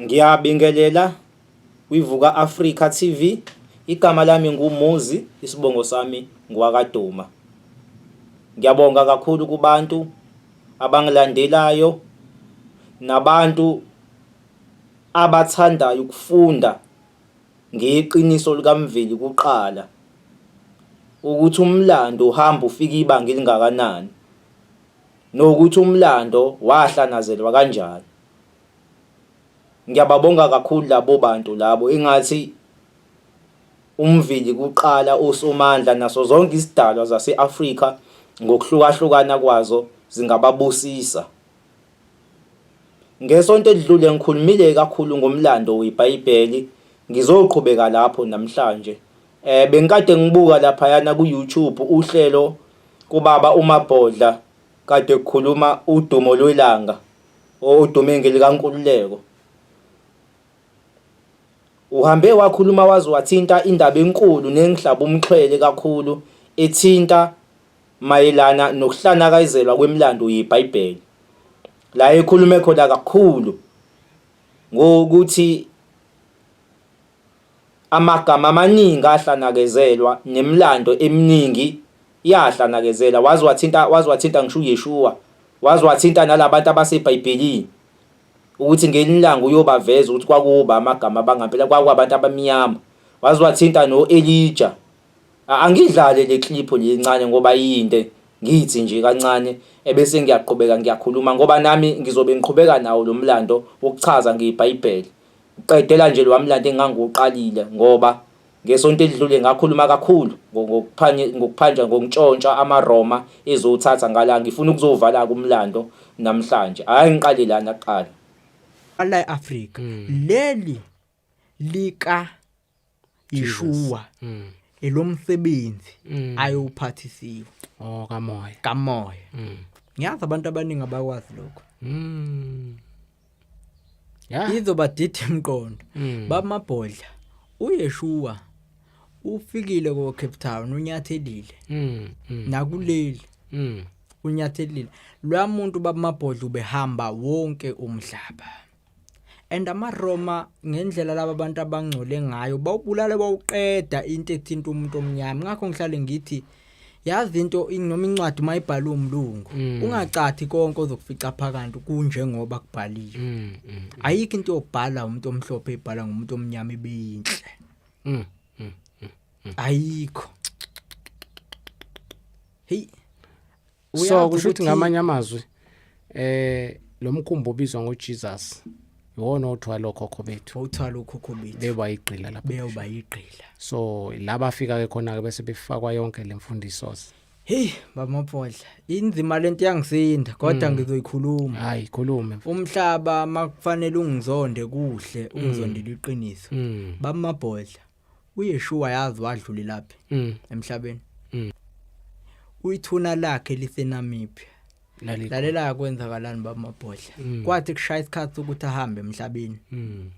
Ngiyabingelela kwiVuka Africa TV. Igama lami nguMuzi, isibongo sami ngwakaDuma. Ngiyabonga kakhulu kubantu abangilandelayo nabantu abathandayo ukufunda ngeqiniso likaMveli kuqala ukuthi umlando uhamba ufika ibanga elingakanani nokuthi umlando wahlanazelwa kanjani. Ngiyababonga kakhulu labo bantu labo ingathi umvili kuqala uSomandla naso zonke isidalwa zase-Afrika ngokuhlukahlukana kwazo zingababusisa. Ngesonto elidlule ngikhulumile kakhulu ngomlando weBhayibheli, ngizoqhubeka lapho namhlanje. Eh bengikade ngibuka laphayana ku-YouTube uhlelo kubaba uMabhodla kade kukhuluma udumo lwelanga Odumingi likaNkululeko uhambe wakhuluma waze wathinta indaba enkulu nengihlaba umxhwele kakhulu ethinta mayelana nokuhlanakazelwa kwemilando yeBhayibheli la ekhulume khona kakhulu ngokuthi Amagama amaningi ahlanakezelwa nemlando eminingi yahlanakezela waze wathinta waze wathinta ngisho uYeshua waze wathinta nalabantu abaseBhayibhelini ukuthi ngelinye ilanga uyobaveza ukuthi kwakuba amagama abangampela kwakuwabantu abamnyama waze wathinta no-Elija angidlale le clip lincane ngoba yinde ngithi nje kancane ebese ngiyaqhubeka ngiyakhuluma ngoba nami ngizobe ngiqhubeka nawo lo mlando wokuchaza ngeBhayibheli Uqedela nje lowa mlando engangiwuqalile ngoba ngesonto elidlule ngakhuluma kakhulu ngokuphanjwa ngokuntshontsha amaRoma ezowuthatha ngala. Ngifuna ukuzowuvala-ke umlando namhlanje. Hhayi ngiqale lana kuqala. Lala e-Afrika. Leli lika. yishuwa mm. elomsebenzi mm. ayowuphathisiwe oh kamoya kamoya mm. ngiyazi abantu abaningi abakwazi lokho mm. yeah. izobadida emqondo mm. bamabhodla uyeshuwa ufikile ko Cape Town unyathelile mm. mm. nakuleli mm. unyathelile lwa muntu babamabhodla ubehamba wonke umhlaba and amaRoma ngendlela laba bantu abangcole ngayo bawubulale bawuqeda into ethinta umuntu omnyama ngakho ngihlale ngithi yazi into noma incwadi mayibhalwe umlungu mm. ungacathi konke ozokufica phakade kunjengoba kubhaliwe mm, mm, ayikho into yobhala umuntu omhlophe ibhala ngomuntu omnyama ibeyinhle ayikho hey so kusho ukuthi ngamanye amazwi eh lo mkhumbi obizwa ngoJesus iwona othwala okhokho bethu othwala okhokho bethu beba igqila lapha beba igqila so laba afika ke khona ke bese befakwa yonke lemfundiso Hey baba Maphodla inzima lento yangisinda kodwa mm. ngizoyikhuluma hayi khulume umhlaba makufanele ungizonde kuhle ungizondela mm. iqiniso mm. baba Maphodla uYeshua yazi wadlulelaphi mm. emhlabeni mm. uyithuna lakhe lisenamiphi lalela kwenzakalani bamabhodla mm. kwathi kushaya isikhathi ukuthi ahambe emhlabeni mm.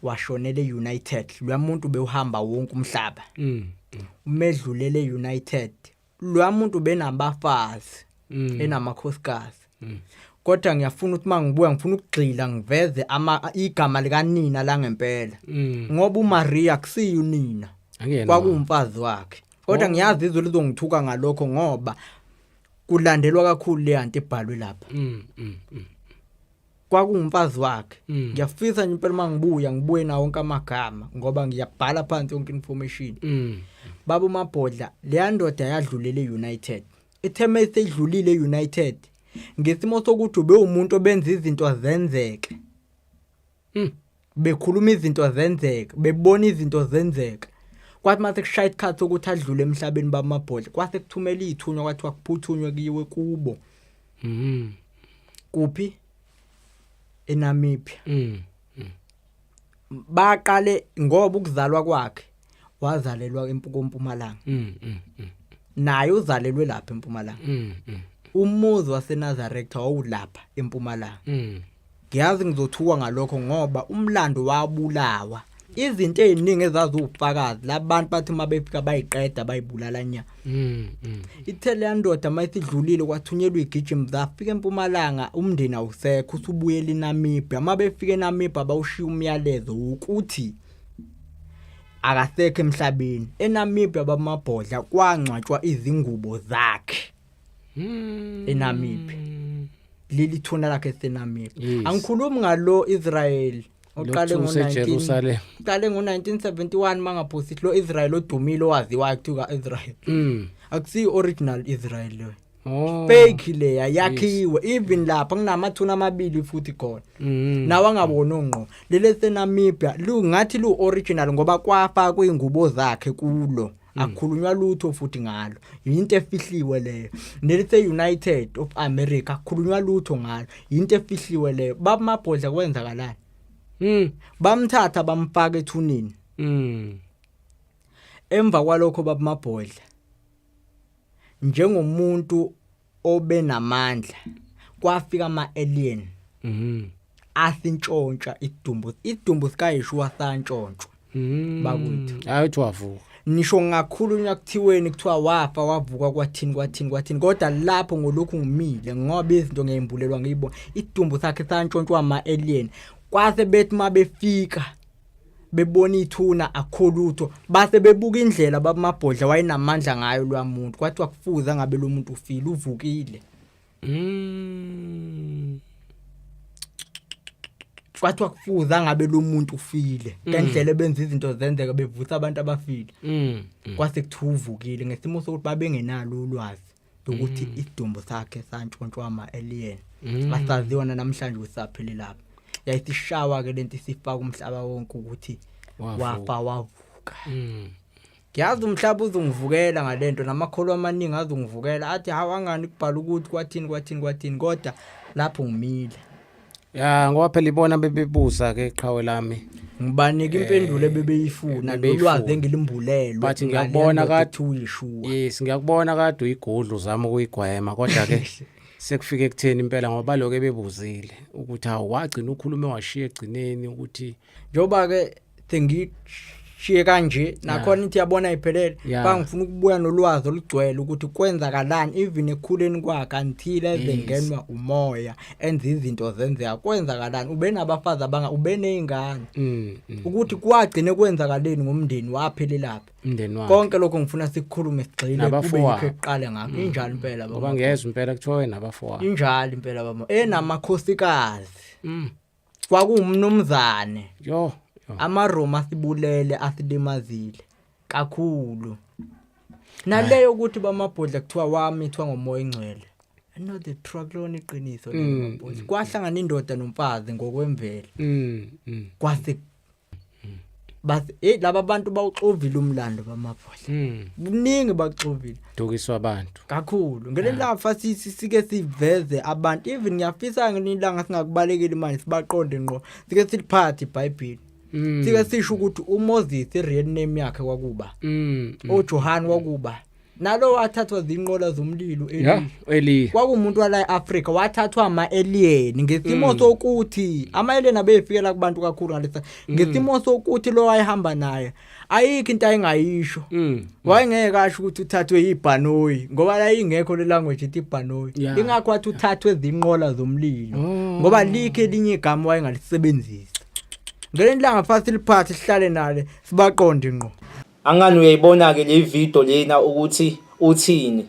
washonele united loyamuntu bewuhamba wonke umhlaba mm. umedlulele united lwa muntu benabafazi mm. enamakhosikazi mm. kodwa ngiyafuna ukuthi mangibuya ngifuna ukugxila ngiveze ama igama likanina la ngempela mm. ngoba uMaria kusiyo nina kwakuwumfazi wakhe kodwa oh. ngiyazi izwe lizongithuka ngalokho ngoba kulandelwa kakhulu le anti ebhalwe lapha mm, mm, mm. kwakungumfazi wakhe mm. ngiyafisa nje impela uma ngibuya ngibuye nawo wonke amagama ngoba ngiyabhala phansi yonke information mm. baba umabhodla leya ndoda yadlulela e-united itheme esedlulile e-united ngesimo sokuthi ube umuntu obenza izinto zenzeke mm. bekhuluma izinto zenzeka bebona izinto zenzeka kwathi mase kushaya isikhathi sokuthi adlule emhlabeni bamabhodle kwase kuthumela izithunywa kwathiwa kuphuthunywe kuyiwe kubo mhm kuphi eNamibia mhm baqale ngoba ukuzalwa kwakhe wazalelwa empukompumalanga mm, mm, mm. naye uzalelwe lapha empumalanga mm, mm. umuzi waseNazaretha wawulapha empumalanga mm. ngiyazi ngizothuka ngalokho ngoba umlando wabulawa izinto eziningi ezazi ubufakazi labantu bathi uma befika bayiqeda bayibulala nya mm, mm. ithele yandoda uma isidlulile kwathunyelwa igijim zafika empumalanga umndeni awusekho usubuyela inamibia uma befika enamibia bawushiya umyalezo ukuthi akasekho emhlabeni eNamibia bamabhodla kwangcwatshwa izingubo zakhe hmm. eNamibia leli thuna lakhe eseNamibia angikhulumi ngalo Israel oqale ngo-19 qale ngo-1971 mangaphosi lo Israel odumile owaziwayo kuthiwa Israel mm. akusiyo original Israel leyo Oh. fake leya yakhiwe even lapha kunamathuna amabili futhi khona Mm. nawe angaboni ongqo leli esenamibia lungathi lu-original ngoba kwafa kwey'ngubo zakhe kulo Mm. akukhulunywa lutho futhi ngalo yinto efihliwe leyo nelise-united of america akukhulunywa lutho ngalo yinto efihliwe leyo babamabhodla kwenzakalani Mm. bamthatha bamfaka ethunini Mm. emva kwalokho babamabhodla njengomuntu obenamandla kwafika ama alien mhm athi ntshontsha idumbu idumbu sikayishuwa santshontshwa mhm bakwethu hayi uthi wavuka nisho ngakhulunywa kuthiweni kuthiwa wafa wavuka kwathini kwathini kwathini kodwa lapho ngolokhu ngimile ngoba izinto ngiyimbulelwa ngiyibona idumbu sakhe santshontshwa ama alien kwase bethi mabefika bebona ithuna akho lutho base bebuka indlela babamabhodla wayenamandla ngayo lwamuntu kwathi wakufuza ngabe lo muntu ufile uvukile mm kwathi wakufuza ngabe lo muntu ufile mm. ngendlela ebenza izinto zenzeka bevusa abantu abafile mm. mm. kwase kuthi uvukile ngesimo sokuthi babengenalo ulwazi ukuthi mm. isidumbu sakhe santshontshwa ama-alien mm. asaziwa nanamhlanje ukuthi saphile lapha yayisishawa ke lento isifaka umhlaba wonke ukuthi wafa wavuka mm. ngiyazi umhlaba uzungivukela ngalento namakholo amaningi azungivukela athi hawangani kubhala ukuthi kwathini kwathini kwathini kodwa lapho ngimile ya ngoba phela ibona bebebuza ke qhawe lami ngibanike impendulo ebebeyifuna eh, lolwazi engilimbulelwe but ngiyakubona kade uyishuwa yes ngiyakubona kade uyigudlu zama ukuyigwema kodwa ke sekufike kutheni impela ngoba lokho ebebuzile ukuthi awagcina ukhulume washiya egcineni ukuthi njengoba ke sengishiye kanje nakhona ithi yabona iphelele Yeah. bangifuna ukubuya nolwazi olugcwele ukuthi kwenzakalani even ekhuleni kwakhe until ezengenwa umoya enza izinto zenzeka kwenzakalani ube nabafazi abanga ube nezingane Mm, mm. ukuthi kwagcine kwenzakaleni ngomndeni waphelelaphi Umndeni wakhe. konke lokho ngifuna sikukhulume sigxile kube Nabafowabo. yikho ekuqale ngakho injalo impela Ngoba baba ngezwe impela kuthiwa nabafowabo. injalo impela baba enamakhosikazi Mm. kwakuwumnumzane yo amaroma asibulele asilimazile kakhulu naleyo ukuthi bamabhodla kuthiwa wamithwa ngomoya ingcwele no the truck lona iqiniso mm, mm, mm. kwahlangana indoda nomfazi ngokwemvelo mm, mm. kwase but hey laba bantu bawuxovile umlando bamabhodla mm. kuningi bakuxovile dukiswa abantu kakhulu ngelelafa ah. sithi sike siveze abantu even ngiyafisa ngelilanga singakubalekeli manje sibaqonde ngqo sike siliphathe iBhayibheli mm. sike sisho ukuthi uMoses real name yakhe kwakuba mm. uJohane kwakuba nalo wathathwa zinqola zomlilo yeah, eli kwakumuntu wala eAfrica wathathwa ama alien ngesimo mm. sokuthi ama alien abefikela kubantu kakhulu ngalesa mm. ngesimo sokuthi lo wayehamba naye ayikho into ayingayisho mm. wayengeke asho ukuthi uthathwe yibhanoyi ngoba la ingekho le language ithi ibhanoyi yeah. ingakho wathi uthathwe zinqola zomlilo oh. ngoba likhe elinye igama wayengalisebenzisa ngelinye ilanga fast liphathe sihlale nale sibaqonde ngqo Angani uyayibona-ke le video lena ukuthi uthini.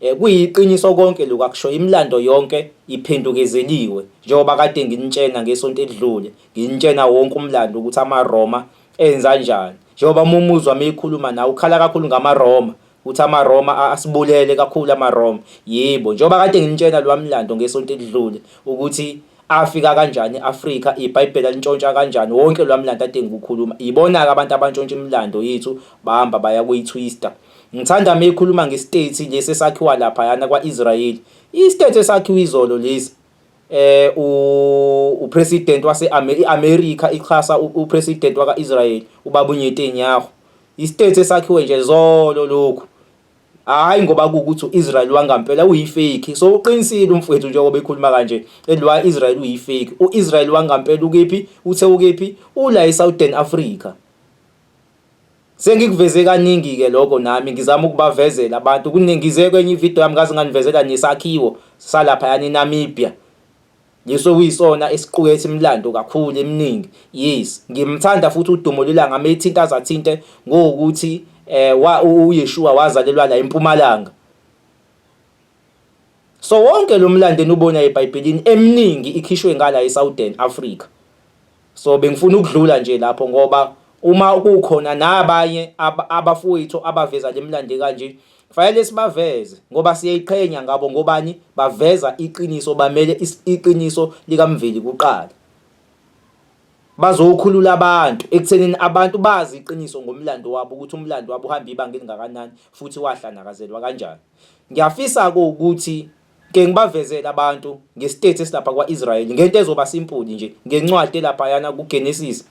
Eh, kuyiqiniso konke lokhu akusho imilando yonke iphendukezeliwe njengoba kade nginitshena ngesonto elidlule nginitshena wonke umlando ukuthi amaRoma enza njani njengoba mumuzwa meyikhuluma nawe ukhala kakhulu ngamaRoma Uthi amaRoma a- asibulele kakhulu amaRoma. Yebo, njengoba kade nginitshela lowa mlando ngesonto elidlule ukuthi afika kanjani e-Afrika, iBhayibheli alintshontsha kanjani, wonke lowa mlando ade ngikukhuluma. Yibona-ke abantu abantshontsha imilando yethu bahamba baya kuyi-twister. Ngithanda uma ekhuluma ngesitethi lesi esakhiwa laphayana kwa-Israyeli. Isitethi esakhiwe izolo lesi. eh upresident wase iAmerica ixhasa upresident wakaIsrael ubabu Netanyahu istate esakhiwe nje zolo lokhu hayi ngoba kukuthi uIsrael wangampela uyifake so uqinisile umfowethu njengoba ekhuluma kanje elwa Israel uyifake uIsrael wangampela ukephi uthe ukephi ula eSouthern Africa Sengikuveze kaningi-ke lokho nami ngizama ukubavezela abantu kuningi ngize kwenye ividiyo yami ngaze nganivezela nesakhiwo salaphayana eNamibia leso okuyisona esiqukethe imilando kakhulu eminingi yes ngimthanda futhi udumo lelanga methinta zathinte ngokuthi eh uyeshuwa wazalelwa la empumalanga So wonke lo mlando enubona eBhayibhelini eminingi ikhishwe ngala eSouthern Africa. So bengifuna ukudlula nje lapho ngoba uma kukhona nabanye abafowethu abaveza le mlando kanje kufanele sibaveze ngoba siyayiqhenya ngabo ngobani baveza iqiniso bamele iqiniso likamveli kuqala. Bazokhulula abantu ekuthenini abantu bazi iqiniso ngomlando wabo ukuthi umlando wabo uhamba ibanga elingakanani futhi wahlanakazelwa kanjani. Ngiyafisa-ke ukuthi ke ngibavezele abantu ngesitethi esilapha kwa-Israyeli ngento ezoba simpuli nje ngencwadi elaphayana kuGenesis.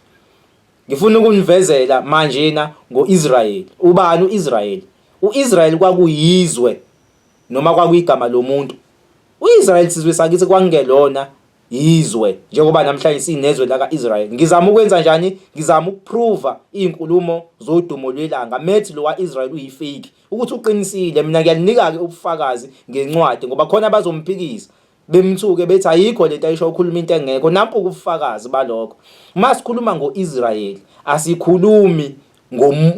Ngifuna ukunivezela manjena ngo-Israyeli. Ubani u-Israyeli? U-Israyeli kwakuyizwe noma kwakuyigama lomuntu. U-Israyeli sizwe sakithi kwangelona yizwe njengoba namhlanje sinezwe laka-Israyeli. Ngizama ukwenza njani? Ngizama ukuprova iy'nkulumo zodumo lwelanga methi lo wa-Israyeli uyifeyiki. ukuthi uqinisile mina ngiyalinika-ke ubufakazi ngencwadi ngoba khona abazomphikisa bemthuke bethi ayikho lento ayisho ukhuluma into engekho nampo ubufakazi balokho uma sikhuluma ngo-israyeli asikhulumi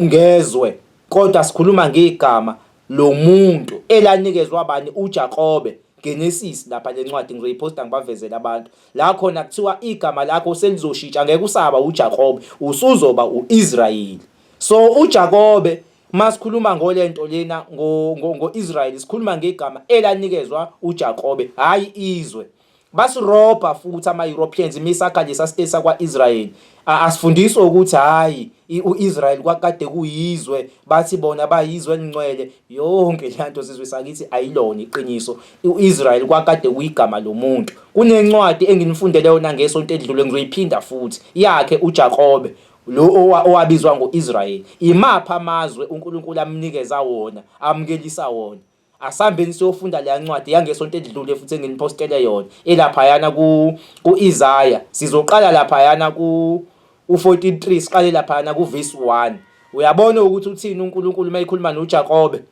ngezwe kodwa sikhuluma ngegama lo muntu elanikezwa abani uJakobe Genesis lapha lencwadi ngizoyiposta ngibavezele abantu la khona kuthiwa igama lakho selizoshintsha ngeke usaba uJakobe usuzoba uIsrayeli so uJakobe Uma sikhuluma ngolento lena ngo-Israyeli sikhuluma ngegama elanikezwa uJakobe, hhayi izwe. Basirobha futhi ama-Europeans imisakha lesa state sakwa-Israyeli. Asifundiswe ukuthi hhayi u-Israyeli kwakade kuyizwe, bathi bona bayizwe elingcwele. Yonke le nto sizwe sakithi ayilona iqiniso. U-Israyeli kwakade kuyigama lomuntu. Kunencwadi enginifundele yona ngesonto elidlule ngizoyiphinda futhi, yakhe uJakobe. Lo owabizwa ngo-Israyeli, imaphi amazwe uNkulunkulu amnikeza wona, amukelisa wona? Asambeni siyofunda leya ncwadi yangesonto elidlule futhi enginipostele yona elaphayana ku-Isaya. Sizoqala laphayana ku-43 siqale laphayana kuvesi 1. Uyabona ukuthi uthini uNkulunkulu uma ekhuluma noJakobe?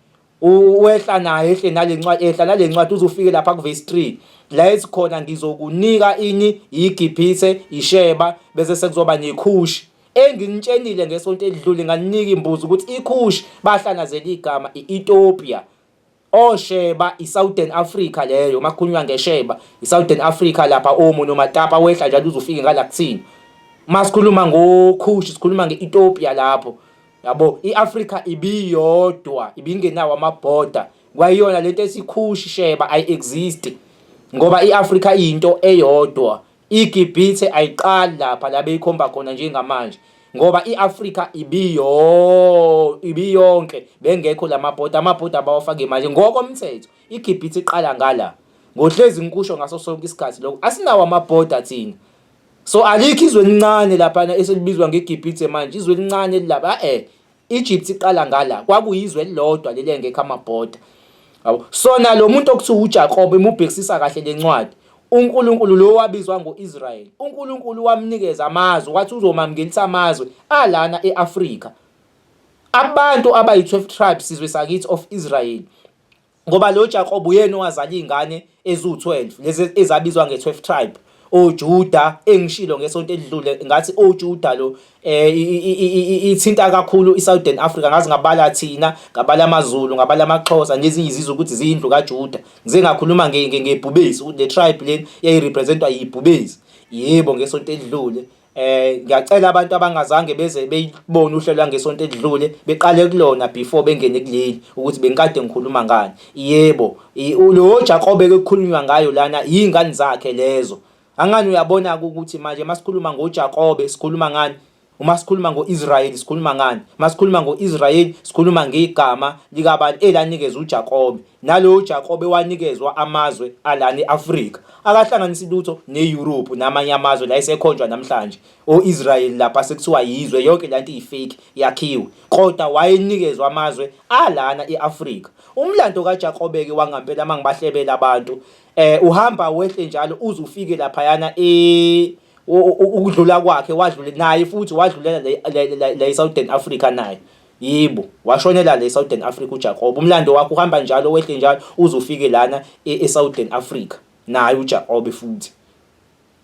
Uwehla naye ehle nale ncwadi ehla nale ncwadi uzufike lapha kuvesi 3 la esikhona ngizokunika ini iGibhithe iSheba bese sekuzoba neKhushi enginitshenile ngesonto elidlule nganinika imbuzo ukuthi iKhushi bahlanazela igama iEthiopia osheba iSouthern Africa leyo makukhulunywa ngesheba iSouthern Africa lapha omo nomatapa wehla njalo uzufike ngala kuthina masikhuluma ngokhushi sikhuluma ngeEthiopia lapho yabo i-afrika ibiyodwa ibingenawo amabhoda kwayiyona lento esikhushi sheba ayi-exist ngoba i-afrika iyinto eyodwa igibhithe ayiqali lapha la beyikhomba khona njengamanje ngoba i-afrika ibiyo ibiyonke bengekho la mabhoda amabhoda abawafake manje ngokomthetho igibhithe iqala ngala ngohlezi ngikusho ngaso sonke isikhathi lokho asinawo amabhoda thina So alikho izwe elincane laphana eselibizwa ngeGibhithe manje, izwe elincane lilaba eh Egypt iqala ngala kwakuyizwe elilodwa leli engekho amabhoda. Yabo. So nalo muntu okuthiwa uJakob imubhekisisa kahle lencwadi. uNkulunkulu lo wabizwa ngoIsrael. uNkulunkulu wamnikeza amazwe wathi uzomamngelisa amazwe alana eAfrika. Abantu abayi-12 tribes sizwe sakithi of Israel. Ngoba lo Jakobe uyena owazala izingane eziwu-12 lezi ezabizwa nge-12 tribe oJuda engishilo ngesonto elidlule ngathi oJuda lo eh ithinta kakhulu iSouthern Africa ngazi ngabala thina ngabala amaZulu ngabala amaXhosa nezinye izizwe ukuthi ziyindlu kaJuda ngize ngakhuluma ngebhubesi ukuthi le tribe leni yayirepresentwa yibhubesi yebo ngesonto elidlule Eh ngiyacela abantu abangazange beze beyibone uhlelo lwangesonto edlule beqale kulona before bengene kuleli ukuthi bengikade ngikhuluma ngani. Yebo, lo Jakobe ekukhulunywa ngayo lana yingane zakhe lezo. Angani uyabona ukuthi manje masikhuluma ngoJakobe sikhuluma ngani? Uma sikhuluma ngo-Israyeli sikhuluma ngani? Uma sikhuluma ngo-Israyeli sikhuluma ngegama likabani elanikezwa uJakobe. Nalowo Jakobe wanikezwa amazwe alana e-Afrika, akahlanganisi lutho neYurophu namanye amazwe la esekhonjwa namhlanje, o-Israyeli lapha sekuthiwa yizwe, yonke le nto iyi-fake, yakhiwe, kodwa wayenikezwa amazwe alana e-Afrika. Umlando kaJakobe-ke wangampela uma ngibahlebela abantu, um uhamba wehle njalo uze ufike laphayana e ukudlula kwakhe wadlule naye futhi wadlulela la e-Southern Africa naye. Yebo, washonela le Southern Africa uJakobe. Umlando wakhe uhamba njalo wehle njalo uze ufike lana eSouthern Africa naye uJakobe futhi.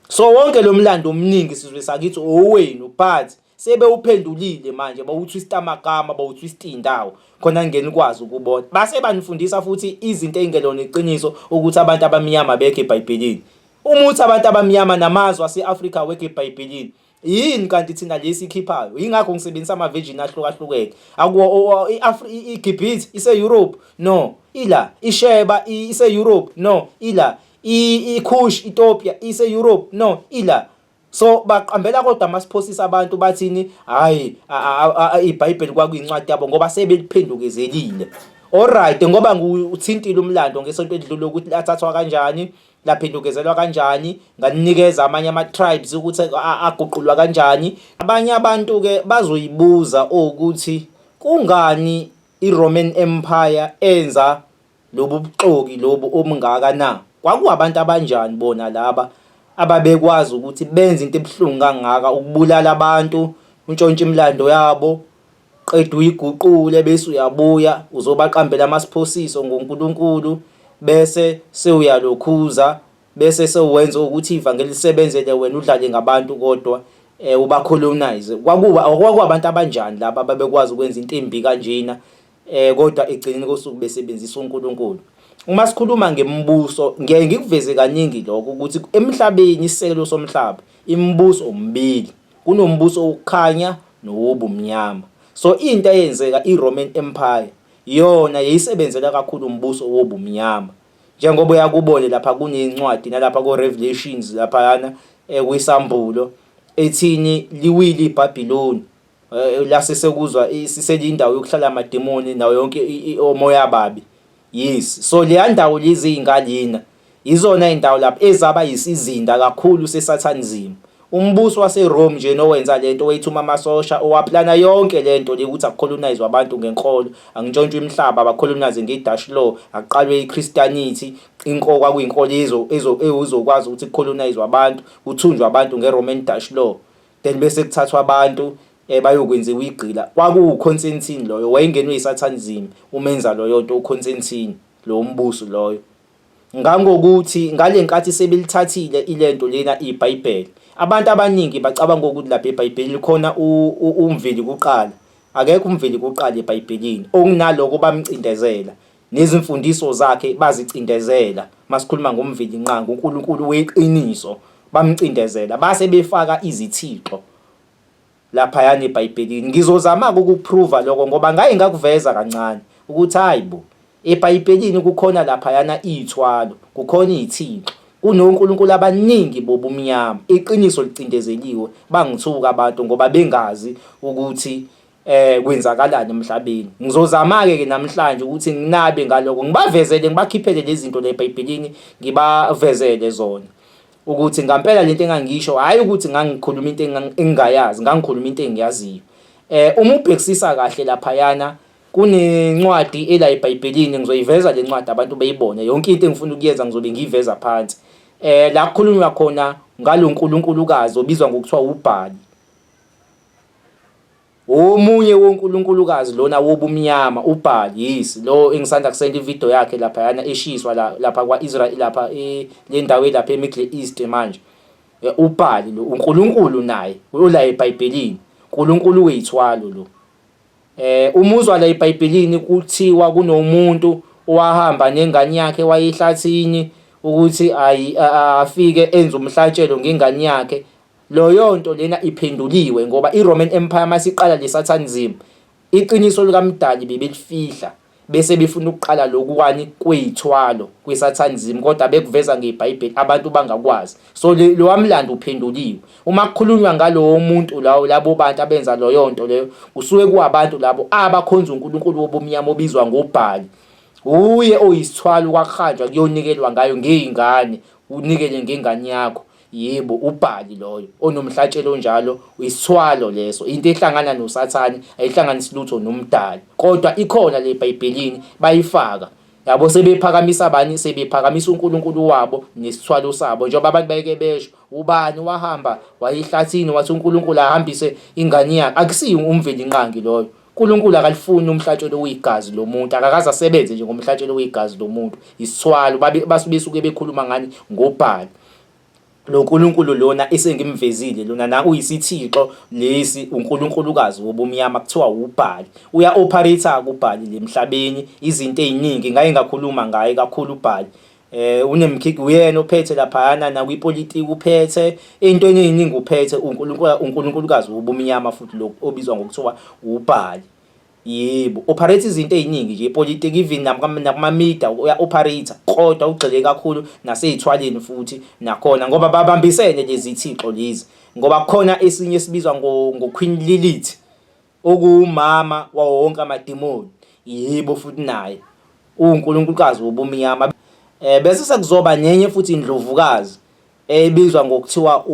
So wonke lo mlando omningi sizwe sakithi owenu but sebewuphendulile manje bawutwist amagama bawutwist indawo khona ngeni kwazi ukubona base banifundisa futhi izinto ezingelona iqiniso ukuthi abantu abamnyama bekho eBhayibhelini uma uthi abantu abamnyama namazwe ase-Afrika wekho eBhayibhelini yini kanti thina lesi ikhiphayo yingakho ngisebenzisa ama-virgin ahlukahlukene akuwo igibhit ise-europe no ila isheba ise-europe no ila ikhush itopia ise-europe no ila so baqambela kodwa masiphosisa abantu bathini hayi ibhayibheli kwakuyincwadi yabo ngoba sebeliphendukezelile Alright ngoba ngiwuthintile umlando ngesonto elidlule ukuthi lathathwa kanjani laphendukezelwa kanjani nganikeza amanye ama-tribes ukuthi aguqulwa kanjani abanye abantu-ke bazoyibuza ukuthi kungani i-roman empire enza lobu buxoki lobu obungaka na kwakuwabantu abanjani bona laba ababekwazi ukuthi benze into ebuhlungu kangaka ukubulala abantu untshontsha imilando yabo Qede uyiguqule bese uyabuya uzobaqambela amasphosiso ngoNkulunkulu bese sewuyalokhuza bese sewenza ukuthi ivangeli lisebenzele wena udlale ngabantu kodwa eh ubacolonize kwakuba kwakubantu abanjani laba ababekwazi ukwenza into embi kanjena eh kodwa egcineni kosuku besebenzisa uNkulunkulu uma sikhuluma ngemibuso ngiye ngikuveze kaningi lokho ukuthi emhlabeni isekelo somhlaba imibuso umbili Kunombuso wokukhanya nowobumnyama. So into eyenzeka iRoman Empire yona yayisebenzela kakhulu umbuso wobumnyama. Njengoba uyakubone lapha kunencwadi nalapha ko Revelations laphayana ekwisambulo eh, ethini liwile iBabiloni eh, lase sekuzwa siselindawo yokuhlala amademoni nawo yonke omoya babi. Yes, so leya ndawo lezi iy'nka lena yizona iy'ndawo lapho ezaba yisizinda kakhulu sesathanism. Umbusi waseRome nje nowenza le nto wayethuma amasosha owaplana yonke le nto le ukuthi akukholonayizwe abantu ngenkolo, angintshontshwe imihlaba, abakholonayizwe ngeDash Law, akuqalwe iChristianity, inko kwakuyinkolo ezokwazi ukuthi kukholonayizwe abantu, kuthunjwe abantu ngeRoman Dash Law. then bese kuthathwa abantu eh bayokwenziwa igqila kwakuwu Constantine loyo wayengenwe isathani zimi umenza loyo nto uConstantine lo mbuso loyo ngangokuthi ngalenkathi sebelithathile ilento lena iBhayibheli abantu abaningi bacabanga ukuthi lapha eBhayibhelini khona umveli kuqala akekho umveli kuqala eBhayibhelini okunaloko bamcindezela Nezimfundiso zakhe bazicindezela. Masikhuluma ngomvilinqangi, uNkulunkulu weqiniso, bamcindezela base befaka izithixo laphayana eBhayibhelini. Ngizozama-ke ukukuphruva lokho ngoba ngaye ngakuveza kancane ukuthi hayi bo, eBhayibhelini kukhona laphayana iy'thwalo, kukhona iy'thixo, kunonkulunkulu abaningi bobumnyama. Iqiniso licindezeliwe, bangithuka abantu ngoba bengazi ukuthi eh kwenzakalani emhlabeni ngizozama ke ke namhlanje ukuthi nginabe ngaloko ngibavezele ngibakhiphele lezi zinto le eBhayibhelini ngibavezele zona ukuthi ngampela lento engangisho hayi ukuthi ngangikhuluma into engingayazi ngangikhuluma into engiyaziyo eh uma ubhekisisa kahle lapha yana kunencwadi ela eBhayibhelini ngizoyiveza le ncwadi abantu beyibone yonke into engifuna ukuyenza ngizobe ngiyiveza phansi eh la kukhulunywa khona ngalonkulunkulukazi obizwa ngokuthiwa ubhali Omunye wonkulunkulukazi lona wobumnyama uBaal yes lo engisanda kusenda ivideo yakhe lapha yana eshiswa la lapha kwaIsrael lapha e, le ndawo elapha eMiddle East manje e, uBaal lo uNkulunkulu naye ola eBhayibhelini uNkulunkulu weyithwalo lo eh umuzwa la eBhayibhelini kuthiwa kunomuntu owahamba nengane yakhe wayehlathini ukuthi ayi afike enze umhlatshelo ngengane yakhe Loyonto lena iphenduliwe ngoba iRoman Empire masiqala leSatanism iqiniso likaMdali bebelifihla bese befuna ukuqala lokuwani kweyithwalo kwiSatanism kodwa bekuveza ngeBhayibheli abantu bangakwazi so lowamlando uphenduliwe uma kukhulunywa ngalowo muntu lawo labo bantu abenza loyonto leyo kusuke kuwabantu labo abakhonza uNkulunkulu wobumnyama obizwa ngoBhali uye oyisithwalo kwakuhanjwa kuyonikelwa ngayo ngeyingane unikele ngengane yakho Yebo, uBhali loyo onomhlatshelo onjalo uyisithwalo leso. Into ehlangana noSathane ayihlanganisi lutho noMdali. Kodwa ikhona le eBhayibhelini bayifaka. Yabo sebephakamisa bani? Sebephakamisa uNkulunkulu wabo nesithwalo sabo. Njengoba abantu bayeke besho, ubani wahamba wayehlathini wathi uNkulunkulu ahambise ingane yakhe. Akusiyo umvelinqangi loyo. uNkulunkulu akalifuni umhlatshelo oyigazi lomuntu akakaze asebenze nje ngomhlatshelo oyigazi lomuntu isithwalo basuke suke bekhuluma ngani ngobhalo lo nkulunkulu lona esengimvezile lona na uyisithixo lesi unkulunkulukazi wobumnyama kuthiwa wubhali uya operator kubhali lemhlabeni izinto eziningi ngaye ngakhuluma ngaye kakhulu ubhali eh unemkhiki uyena ophethe laphayana nakwipolitiki uphethe into eningi uphethe uNkulunkulu uNkulunkulukazi ubumnyama futhi lo obizwa ngokuthiwa ubhali yebo operate izinto eziningi nje ipolitiki even nakuma media uya operator kodwa ugxile kakhulu nasezithwaleni futhi nakhona ngoba babambisene lezi thixo lezi ngoba kukhona esinye esibizwa ngo Queen Lilith okuwumama wawo wonke amadimoni, yibo futhi naye uwunkulunkulukazi wobumnyama. Eh, bese sekuzoba nenye futhi indlovukazi ebizwa ngokuthiwa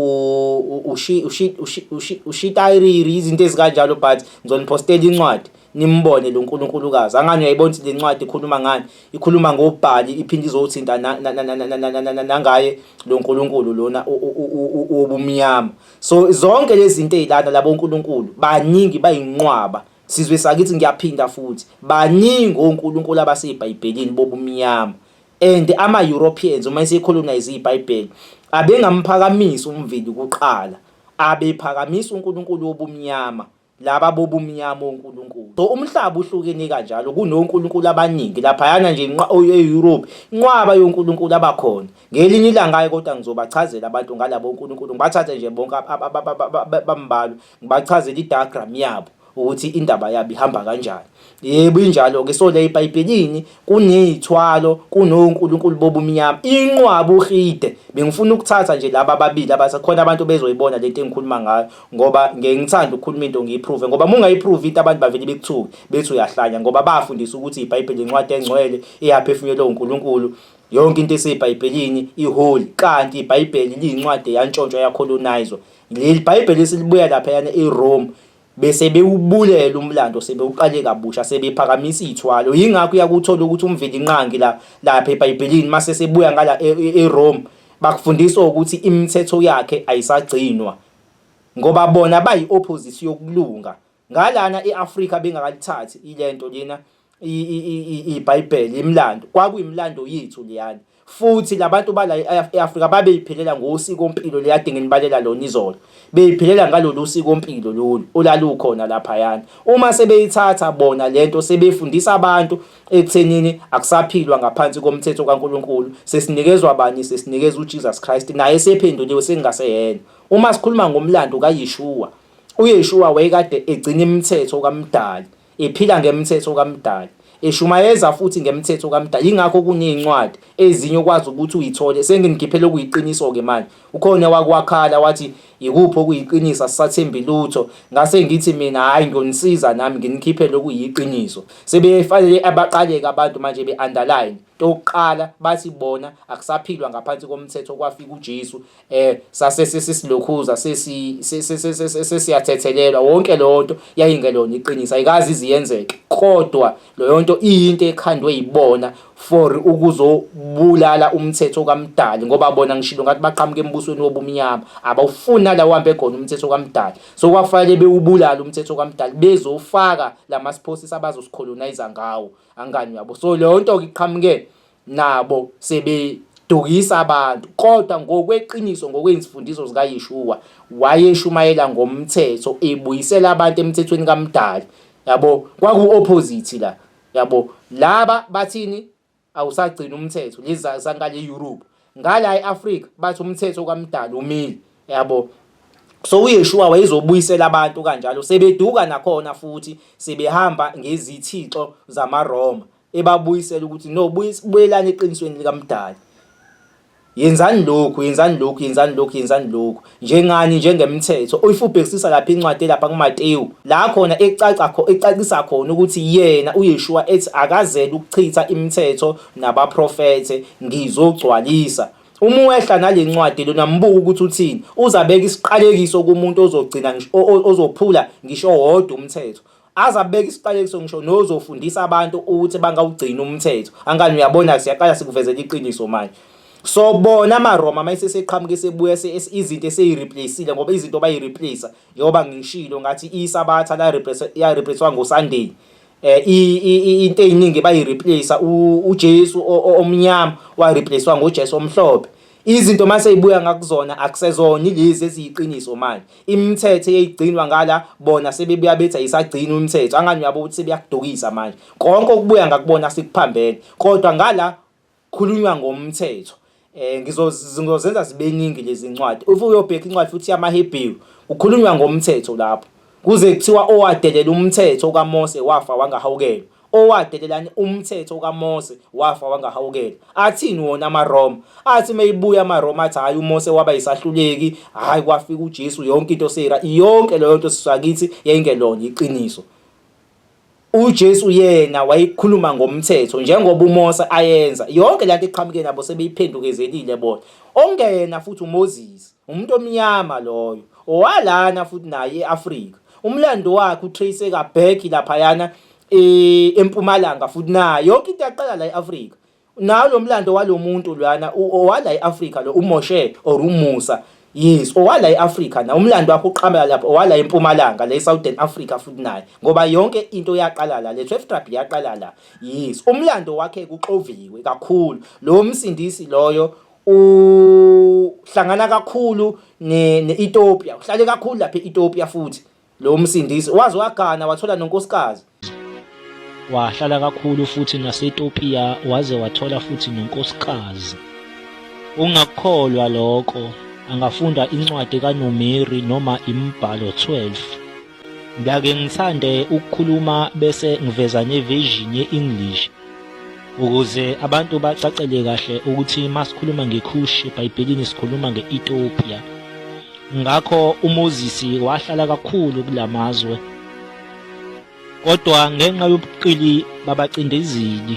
ushitayiriri izinto ezikanjalo but ngizoniphostela incwadi nimbone lo nkulunkulukazi angani uyayibona ukuthi le ncwadi ikhuluma ngani ikhuluma ngobhali iphinde izothinta nangaye lo nkulunkulu lona wobumnyama so zonke lezi zinto ezilana labo uNkulunkulu baningi bayinqwaba sizwe sakithi ngiyaphinda futhi baningi oNkulunkulu abasebhayibhelini bobumnyama and ama Europeans uma esecolonize iBhayibheli abengamphakamisi umveli kuqala abephakamisa uNkulunkulu wobumnyama laba bobumnyama onkulunkulu. So umhlaba uhlukene kanjalo kunonkulunkulu abaningi laphayana nje e-Europe inqwaba yonkulunkulu abakhona. Ngelinye ilanga-ke kodwa ngizobachazela abantu ngalabo nkulunkulu ngibathathe nje bonke bambalwa ngibachazele i-diagram yabo ukuthi indaba yabo ihamba kanjani. Yebo, injalo-ke. So, la eBhayibhelini kuney'thwalo, kunonkulunkulu bobumnyama. Inqwaba uRhide. Bengifuna ukuthatha nje laba ababili abase khona abantu bezoyibona le nto engikhuluma ngayo ngoba ngeke ngithande ukukhuluma into ngiyiphruve ngoba uma ungayiphruve into abantu bavele bekuthuke bethi uyahlanya ngoba bafundisa ukuthi iBhayibheli incwadi engcwele eyaphefumulelwa uNkulunkulu yonke into eseyibhayibhelini iholi kanti ibhayibheli liyincwadi yantshontshwa yakholonayizwa leli bhayibheli esilibuya laphayana erome bese bewubulela umlando sebewuqale kabusha sebephakamisa iy'thwalo yingakho uyakuthola ukuthi umvelinqangi la lapha ebhayibhelini mase sebuya ngala e, e, erome bakufundisa ukuthi imithetho yakhe ayisagcinwa ngoba bona bayi-opposition yokulunga ngalana e-afrika bengakalithathi ilento lena iBhayibheli imlando kwakuyimlando yethu leyana futhi labantu bala e-Afrika babeyiphelela ngosiko mpilo leyade nginibalela lona izolo beyiphelela ngalolu siko mpilo lolu olalukhona lapha yana uma sebeyithatha bona lento sebefundisa abantu ekuthenini akusaphilwa ngaphansi komthetho kaNkuluNkulu sesinikezwa bani sesinikezwa uJesus Christ naye sephenduliwe sengingaseyena uma sikhuluma ngomlando kaYeshua uYeshua wayekade egcina imithetho kaMdali Iphila ngemthetho kaMdali. Ishumayeza futhi ngemthetho kaMdali. Yingakho kuney'ncwadi ezinye okwazi ukuthi uyithole. Senginikhiphela okuyiqiniso-ke manje. Ukhona owake wakhala wathi yikuphi okuyiqiniso asisathembi lutho. Ngase ngithi mina hhayi ngiyonisiza nami nginikhiphele okuyiqiniso. Sebefanele abaqaleke abantu manje be-underline. Into yokuqala bathi bona akusaphilwa ngaphansi komthetho kwafika uJesu. eh sase sesilokhuza sesi sesiyathethelelwa wonke lonto yayingelona iqiniso ayikazi iziyenzeke kodwa loyonto iyinto ekhandwe yibona for ukuzobulala umthetho kamdali ngoba bona ngishilo ngathi baqhamuka embusweni wobumnyama abawufuni nalawo hambe khona umthetho kamdali so kwafanele bewubulala umthetho kamdali bezofaka lama sports abazosikholonize ngawo angani yabo so lonto iqhamuke nabo sebedukisa abantu kodwa ngokweqiniso ngokwezifundiso zikaYeshua wayeshumayela ngomthetho ebuyisela abantu emthethweni kaMdali yabo kwaku opposite la yabo laba bathini awusagcina umthetho lezi zankale Europe ngala eAfrica bathi umthetho kaMdali umile yabo so uYeshua wayezobuyisela abantu kanjalo sebeduka nakhona futhi sebehamba ngezithixo zamaRoma ebabuyisela ukuthi no buyelani eqinisweni likamdali yenzani lokhu yenzani lokhu yenzani lokhu yenzani lokhu njengani njengemthetho oyifubhekisisa lapha incwadi lapha kuMateyu la khona ecaca kho ecacisa khona ukuthi yena uYeshua ethi akazele ukuchitha imithetho nabaprofete ngizogcwalisa uma wehla nalencwadi lona mbuka ukuthi uthini uzabeka isiqalekiso kumuntu ozogcina ozophula ngisho wodwa umthetho aze abeke isiqalekiso ngisho nozofundisa abantu ukuthi bangawugcina umthetho angani uyabona siyaqala sikuvezela iqiniso manje so bona amaroma uma eseseqhamuka esebuya izinto eseyireplaceile ngoba izinto bayireplace njengoba ngishilo ngathi isabatha yareplacewa ngosunday eh, um into ey'ningi bayireplace ujesu omnyama wareplacewa ngojesu omhlophe Izinto mase ibuya ngakuzona akusezona ilezi eziyiqiniso manje. Imithetho eyigcinwa ngala bona sebebuya bethi ayisagcini umthetho. Angani uyabo ukuthi sebeyakudukisa manje. Konke okubuya ngakubona sikuphambene. Kodwa ngala khulunywa ngomthetho. Eh ngizozenza zibeningi lezi ncwadi. Uthi uyobheka incwadi futhi yamaHebheru. Kukhulunywa ngomthetho lapho. Kuze kuthiwa owadelela umthetho kaMose wafa wangahawukelwa. Owadelelani umthetho kaMose wafa wangahawukela. Athini wona amaRoma? Athi meyibuya amaRoma athi hayi uMose waba yisahluleki, hayi kwafika uJesu yonke into seyira. Yonke leyo nto siswakithi yayingelona iqiniso. uJesu yena wayekhuluma ngomthetho njengoba uMose ayenza yonke lento eqhamuke nabo sebeyiphendukezelile bona ongena futhi uMoses umuntu omnyama loyo owalana futhi naye eAfrika umlando wakhe utrace kaback laphayana eh, empumalanga futhi nayo yonke into yaqala la e-Afrika nawo lo mlando walo muntu lwana owala e-Afrika lo uMoshe or uMusa yes owala e-Afrika na umlando wakho uqhamela lapho owala empumalanga le Southern Africa futhi naye ngoba yonke into yaqala la le 12 tribe yaqala la yes umlando wakhe kuxoviwe kakhulu lo msindisi loyo uhlangana kakhulu ne-Ethiopia uhlale kakhulu lapha e-Ethiopia futhi Lo msindisi waze wagana wathola nonkosikazi. Wahlala kakhulu futhi naseTopiya waze wathola futhi nonkosikazi. Ungakukholwa lokho, angafunda incwadi kaNumeri noma imibhalo 12. Ngiyake ngithande ukukhuluma bese ngiveza neversion ye-English ukuze abantu bacacele kahle ukuthi uma sikhuluma ngekhushi ebhayibhelini sikhuluma nge-ethiopia ngakho umozisi wahlala kakhulu kula mazwe kodwa ngenxa yobuqili babacindezeli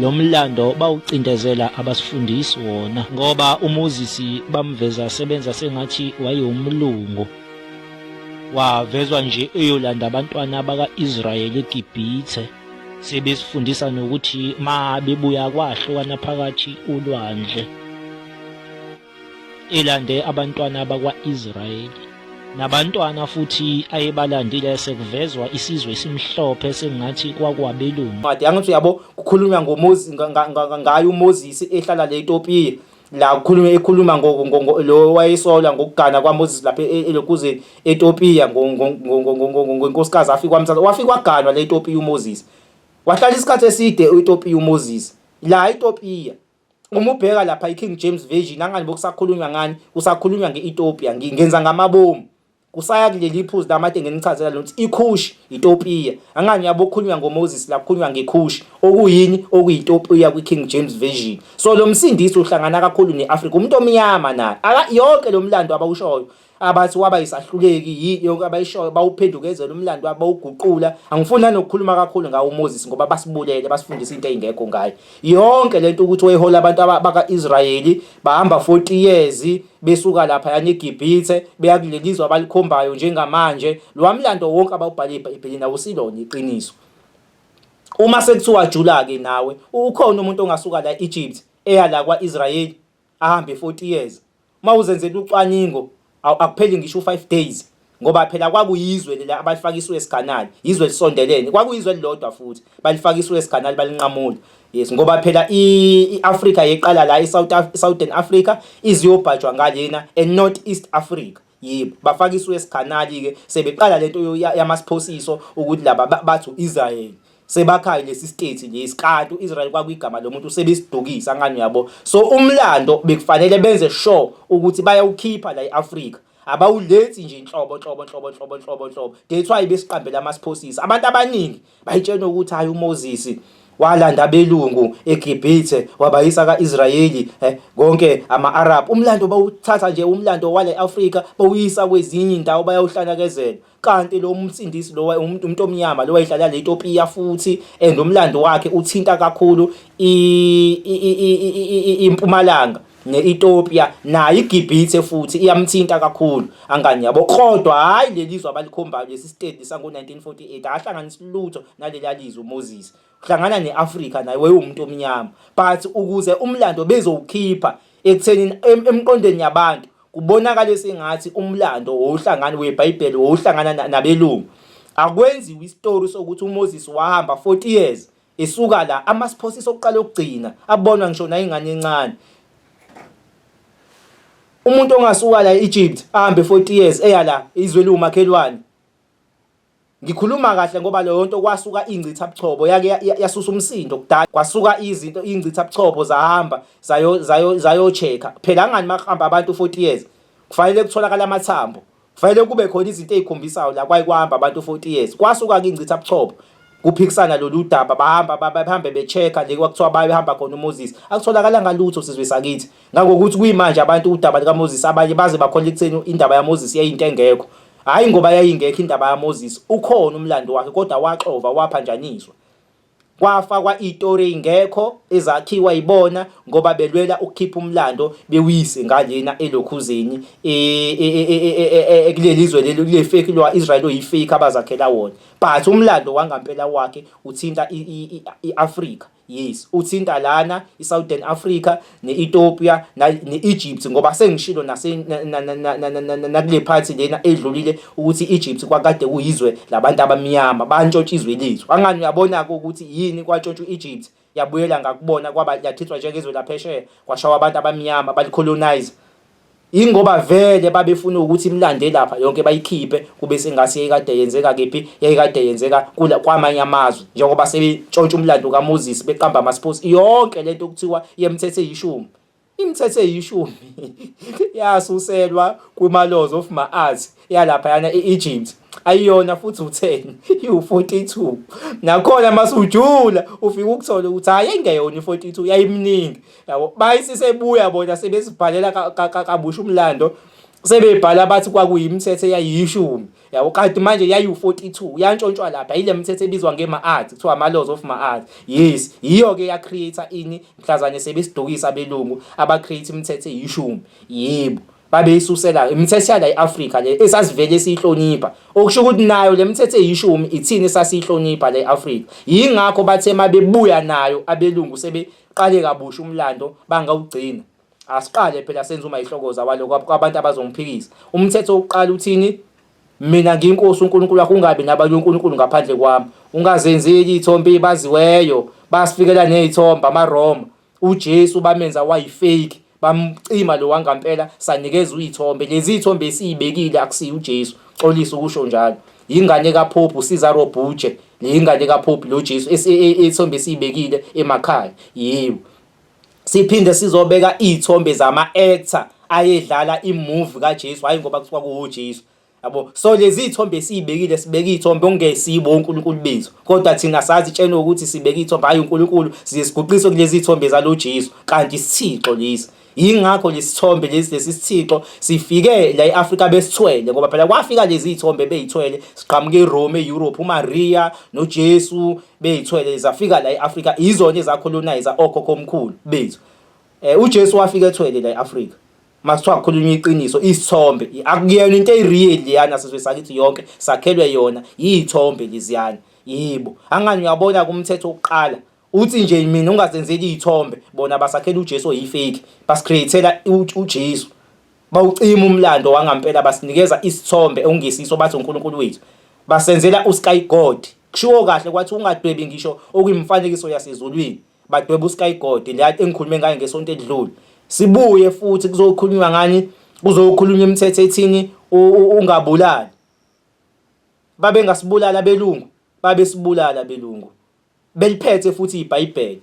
lo mlando bawucindezela abasifundisi wona ngoba umozisi bamveza sebenza sengathi wayewumlungu wavezwa nje eyolanda abantwana baka-israyeli egibhithe sebesifundisa nokuthi ma bebuya kwahlukana phakathi ulwandle elande abantwana bakwa-israyeli nabantwana futhi ayebalandile sekuvezwa isizwe esimhlophe sengathi kwakwabelungu made angithi uyabo kukhulunywa ngoMoses ngayo uMoses ehlala le Ethiopia la ukhuluma ekhuluma lo wayesolwa ngokugana kwaMoses lapha e, elokuzeni eTopiya ngonkosikazi afika wamthatha wafika waganwa le eTopiya uMoses wahlala isikhathi eside eTopiya uMoses la eTopiya uma ubheka lapha iKing James Version angani bokusakhulunywa ngani kusakhulunywa nge-Ethiopia ngenza ngamabomu Kusaya kuleli iphuzu lamathe ngenichazela lona ukuthi iKhushi yiTopiya. Angani yabo kukhulunywa ngoMoses la kukhulunywa ngeKhushi okuyini okuyiTopiya kwiKing James Version. So lo msindisi uhlangana kakhulu ne-Afrika umuntu omnyama naye. Aka yonke lo mlando abawushoyo abathi waba yisahluleki yini yonke abayishoyo bawuphendukezela umlando wabo bawuguqula angifuni nanokukhuluma kakhulu ngawo uMoses ngoba basibulele basifundisa into eyingekho ngaye yonke lento ukuthi wayehola abantu baka-Israyeli bahamba 40 years besuka lapha yani igibhithe beyakulelizwa abalikhombayo njengamanje lo mlando wonke abawubhale ebhayibhelini awusilona iqiniso uma sekuthiwa jula ke nawe ukhona umuntu ongasuka la Egypt eya la kwaIsrael ahambe 40 years mawuzenzela ucwaningo akupheli ngisho 5 days ngoba phela kwakuyizwe leli abalifaka iSuez Canal yizwe lisondelene kwakuyizwe elilodwa futhi balifaka iSuez Canal balinqamula yes ngoba phela iAfrica yeqala la iSouth Southern Africa iziyobhajwa ngalena eNorth East Africa yebo bafaka iSuez Canal ke sebeqala lento yamasphosiso ukuthi laba bathu Israel sebakhaye lesi state lesi kanti uIsrael kwakuyigama lomuntu sebesidukisa ngani yabo so umlando bekufanele benze sure ukuthi bayawukhipha la eAfrica abawuletsi nje inhlobo nhlobo nhlobo nhlobo nhlobo nhlobo that's why besiqambela amasphosisi abantu abaningi bayitshena ukuthi hayi uMoses walanda belungu eGibhithe wabayisa kaIsrayeli eh, konke ama-Arab umlando bawuthatha nje umlando wale Afrika bawuyisa kwezinye indawo bayawuhlanakezela kanti lo msindisi lo umuntu umuntu omnyama lo wayedlala le Ethiopia futhi and umlando wakhe uthinta kakhulu impumalanga ne-Ethiopia nayo iGibhithe futhi iyamthinta kakhulu angani yabo kodwa hhayi leli zwe abalikhombayo lesi sitedi sango-1948 ahlanganisi lutho naleli alizwe uMoses hlangana ne-Afrika naye wayewumuntu omnyama but ukuze umlando bezowukhipha ekuthenini emqondweni yabantu kubonakale sengathi umlando wowuhlangani webhayibheli wowuhlangana nabelungu akwenziwa isitori sokuthi uMoses wahamba 40 years esuka la amasiphosi sokuqala okugcina abonwa ngisho nayingane encane umuntu ongasuka la eEgypt ahambe 40 years eya la izwe liwumakhelwane Ngikhuluma kahle ngoba leyo nto kwasuka ingcitha buchopho yake yasusa umsindo kudala kwasuka izinto ingcitha buchopho zahamba zayo zayo zayo check phela angani makuhamba abantu 40 years kufanele kutholakala amathambo kufanele kube khona izinto ezikhombisayo la kwayikwahamba abantu 40 years kwasuka ke ingcitha buchopho kuphikisana lolu daba bahamba bahambe be-check-a le kwakuthiwa bayehamba khona uMoses akutholakala ngalutho sizwe sakithi ngangokuthi kuyimanje abantu udaba likaMoses abanye baze bakhola ekutheni indaba yaMoses yayinto engekho Hhayi ngoba yayingekho indaba yaMoses, ukhona umlando wakhe kodwa waxova waphanjaniswa. Kwafakwa itori ey'ngekho ezakhiwa yibona ngoba belwela ukukhipha umlando bewuyise ngalena elokhuzeni e, e, e, ekuleli zwe leli kule feki lwa-israyeli oyifeki abazakhela wona but umlando wangampela wakhe uthinta i-afrika Yes, uthinta lana iSouthern Africa neEthiopia neEgypt ngoba sengishilo nase nakule phathi lena edlulile ukuthi Egypt kwakade kuyizwe labantu abamnyama bantshontsha izwe lethu. Angani uyabona ke ukuthi yini kwantshontsha uEgypt yabuyela ngakubona kwaba yathithwa njengezwe laphesheya kwashawa abantu abamnyama balicolonize. Ingoba vele babefuna ukuthi imlande lapha yonke bayikhiphe kube sengathi yayikade yenzeka kephi yayikade yenzeka kula kwamanye amazwe njengoba sebetshontsha umlando kaMoses beqamba amasiphosi yonke lento okuthiwa yemthethe yishumi imithethe yishumi yasuselwa kuma laws of maarts yalaphayana e-Egypt ayiyona futhi u-10 iwu-42 nakhona masujula ufike ukuthola ukuthi hhayi engeyona i-42 yayimningi yabo bayisisebuya bona sebesibhalela kabusha umlando sebebhala bathi kwakuyimithetho eyayiyishumi yabo kanti manje yayiwu-42 yantshontshwa lapha yile mithetho ebizwa ngema-art kuthiwa ama-laws of ma-art yes yiyo-ke ya-create-a ini mhlazane sebesidukisa abelungu aba-create imithetho eyishumi yebo babeyisusela imithethela i-Afrika le esasivele siyihlonipha okusho ukuthi nayo le mithetho eyishumi ithini esasiyihlonipha le Afrika yingakho bathe mabebuya nayo abelungu sebeqale kabusha umlando bangawugcina asiqale phela senza uma ihlokoza waloko kwabantu abazongiphikisa umthetho uqala uthini mina ngiyinkosi uNkulunkulu wakho ungabi nabanye uNkulunkulu ngaphandle kwami ungazenzeli ithombe baziweyo basifikela nezithombe amaRoma uJesu bamenza wayifake bamcima lo wangampela sanikeza uyithombe lezi ithombe esiyibekile akusiyo uJesu xolisa ukusho njalo yingane kaPope uSiza Robuje le yingane kaPope lo Jesu e, e, ethombe esiyibekile emakhaya yebo siphinde sizobeka izithombe zama actor ayedlala imovie kaJesu hayi ngoba kuthiwa kuwo Jesu yabo so lezi ithombe esiyibekile sibeke ithombe ongesibo uNkulunkulu bethu kodwa thina sazi tshena ukuthi sibeke ithombe hayi uNkulunkulu siye siguqise kulezi ithombe zalo Jesu kanti isithixo lesi yingakho lesithombe lesi lesisithixo sifike la eAfrika besithwele ngoba phela kwafika lezi ithombe beyithwele siqhamuka eRome eEurope uMaria noJesu beyithwele zafika la eAfrika izona ezacolonizer okhokho omkhulu bethu Eh uJesu wafika ethwele la eAfrika. Masithiwa kukhulunywa iqiniso isithombe akuyena into eyireal liyana sizwe sakithi yonke sakhelwe yona yithombe liziyana yibo angani uyabona kumthetho oqala uthi nje mina ungazenzeli izithombe bona basakhela uJesu oyifake basicreatela uJesu bawucima umlando wangampela basinikeza isithombe ongesiso bathi uNkulunkulu wethu basenzela usky god kushiwo kahle kwathi ungadwebi ngisho okuyimfanekiso yasezulwini badweba uSkygod la engikhulume ngaye ngesonto edlule sibuye futhi kuzokhulunywa ngani kuzokhulunywa imithetho ethini ungabulali babe ngasibulala belungu babe sibulala belungu beliphethe futhi iBhayibheli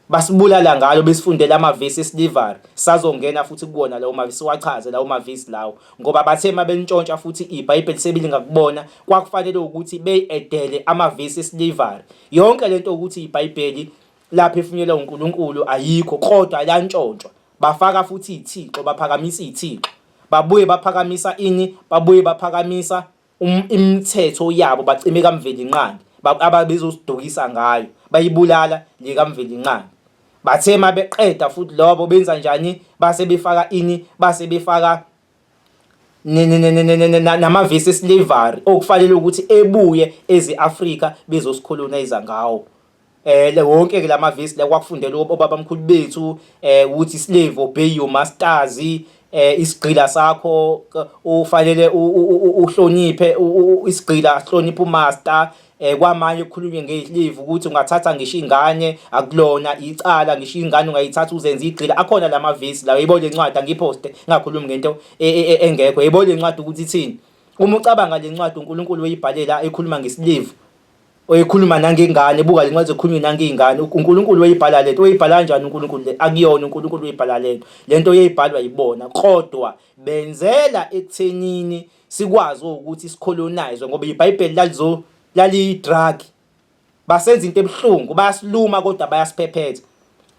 basibulala ngalo besifundela amavesi esilivari sazongena futhi kuwona lawo mavesi siwachaze lawo mavesi lawo ngoba bathe uma belintshontsha futhi ibhayibheli sebilingakubona kwakufanele ukuthi beyedele amavesi esilivari yonke lento ukuthi iBhayibheli laphefunyelwa uNkulunkulu ayikho kodwa lantshontshwa bafaka futhi ithixo baphakamisa ithixo babuye baphakamisa ini babuye baphakamisa um, imithetho yabo bacime kamvelinqangi ababezosidukisa ngayo bayibulala le kamvelinqangi bathe mabeqeda futhi lobo benza njani base befaka ini base befaka namavesi eslavery okufanele ukuthi ebuye eze-Afrika bezosikholonayiza ngawo eh le wonke ke lamavesi la kwakufundela obabamkhulu bethu um eh, ukuthi slave obey your masters um eh, isigqila sakho ufanele uhloniphe isigqila sihloniphe umaster eh kwamanye kukhulunywe ngeyihlivi ukuthi ungathatha ngisho ingane akulona icala ngisho ingane ungayithatha uzenza igxila akhona lamavesi lawo yebo lencwadi angiposte ngakhulumi ngento e, e, e, engekho yebo lencwadi ukuthi ithini uma ucabanga lencwadi uNkulunkulu uyibhalela ekhuluma ngesilivu oyikhuluma nangengane buka lencwadi zokhulunywe nangeyingane uNkulunkulu uyibhala lento uyibhala kanjani uNkulunkulu le akuyona uNkulunkulu uyibhala lento lento uyibhalwa yibona kodwa benzela ekuthenini sikwazi ukuthi sicolonize ngoba iBhayibheli lalizo laliyidrug basenza into ebuhlungu bayasiluma kodwa bayasiphephetha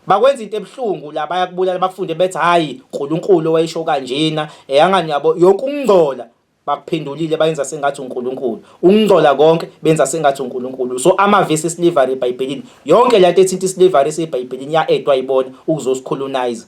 bakwenza into ebuhlungu la bayakubulala bakufunde bethi hayi uNkulunkulu owayesho kanjena eyangani yabo yonke ukungcola bakuphendulile bayenza sengathi uNkulunkulu ukungcola konke benza sengathi uNkulunkulu so amavesi slavery eBhayibhelini yonke lento ethinta islavery eseBhayibhelini ya-edwa ibona ukuzosicolonize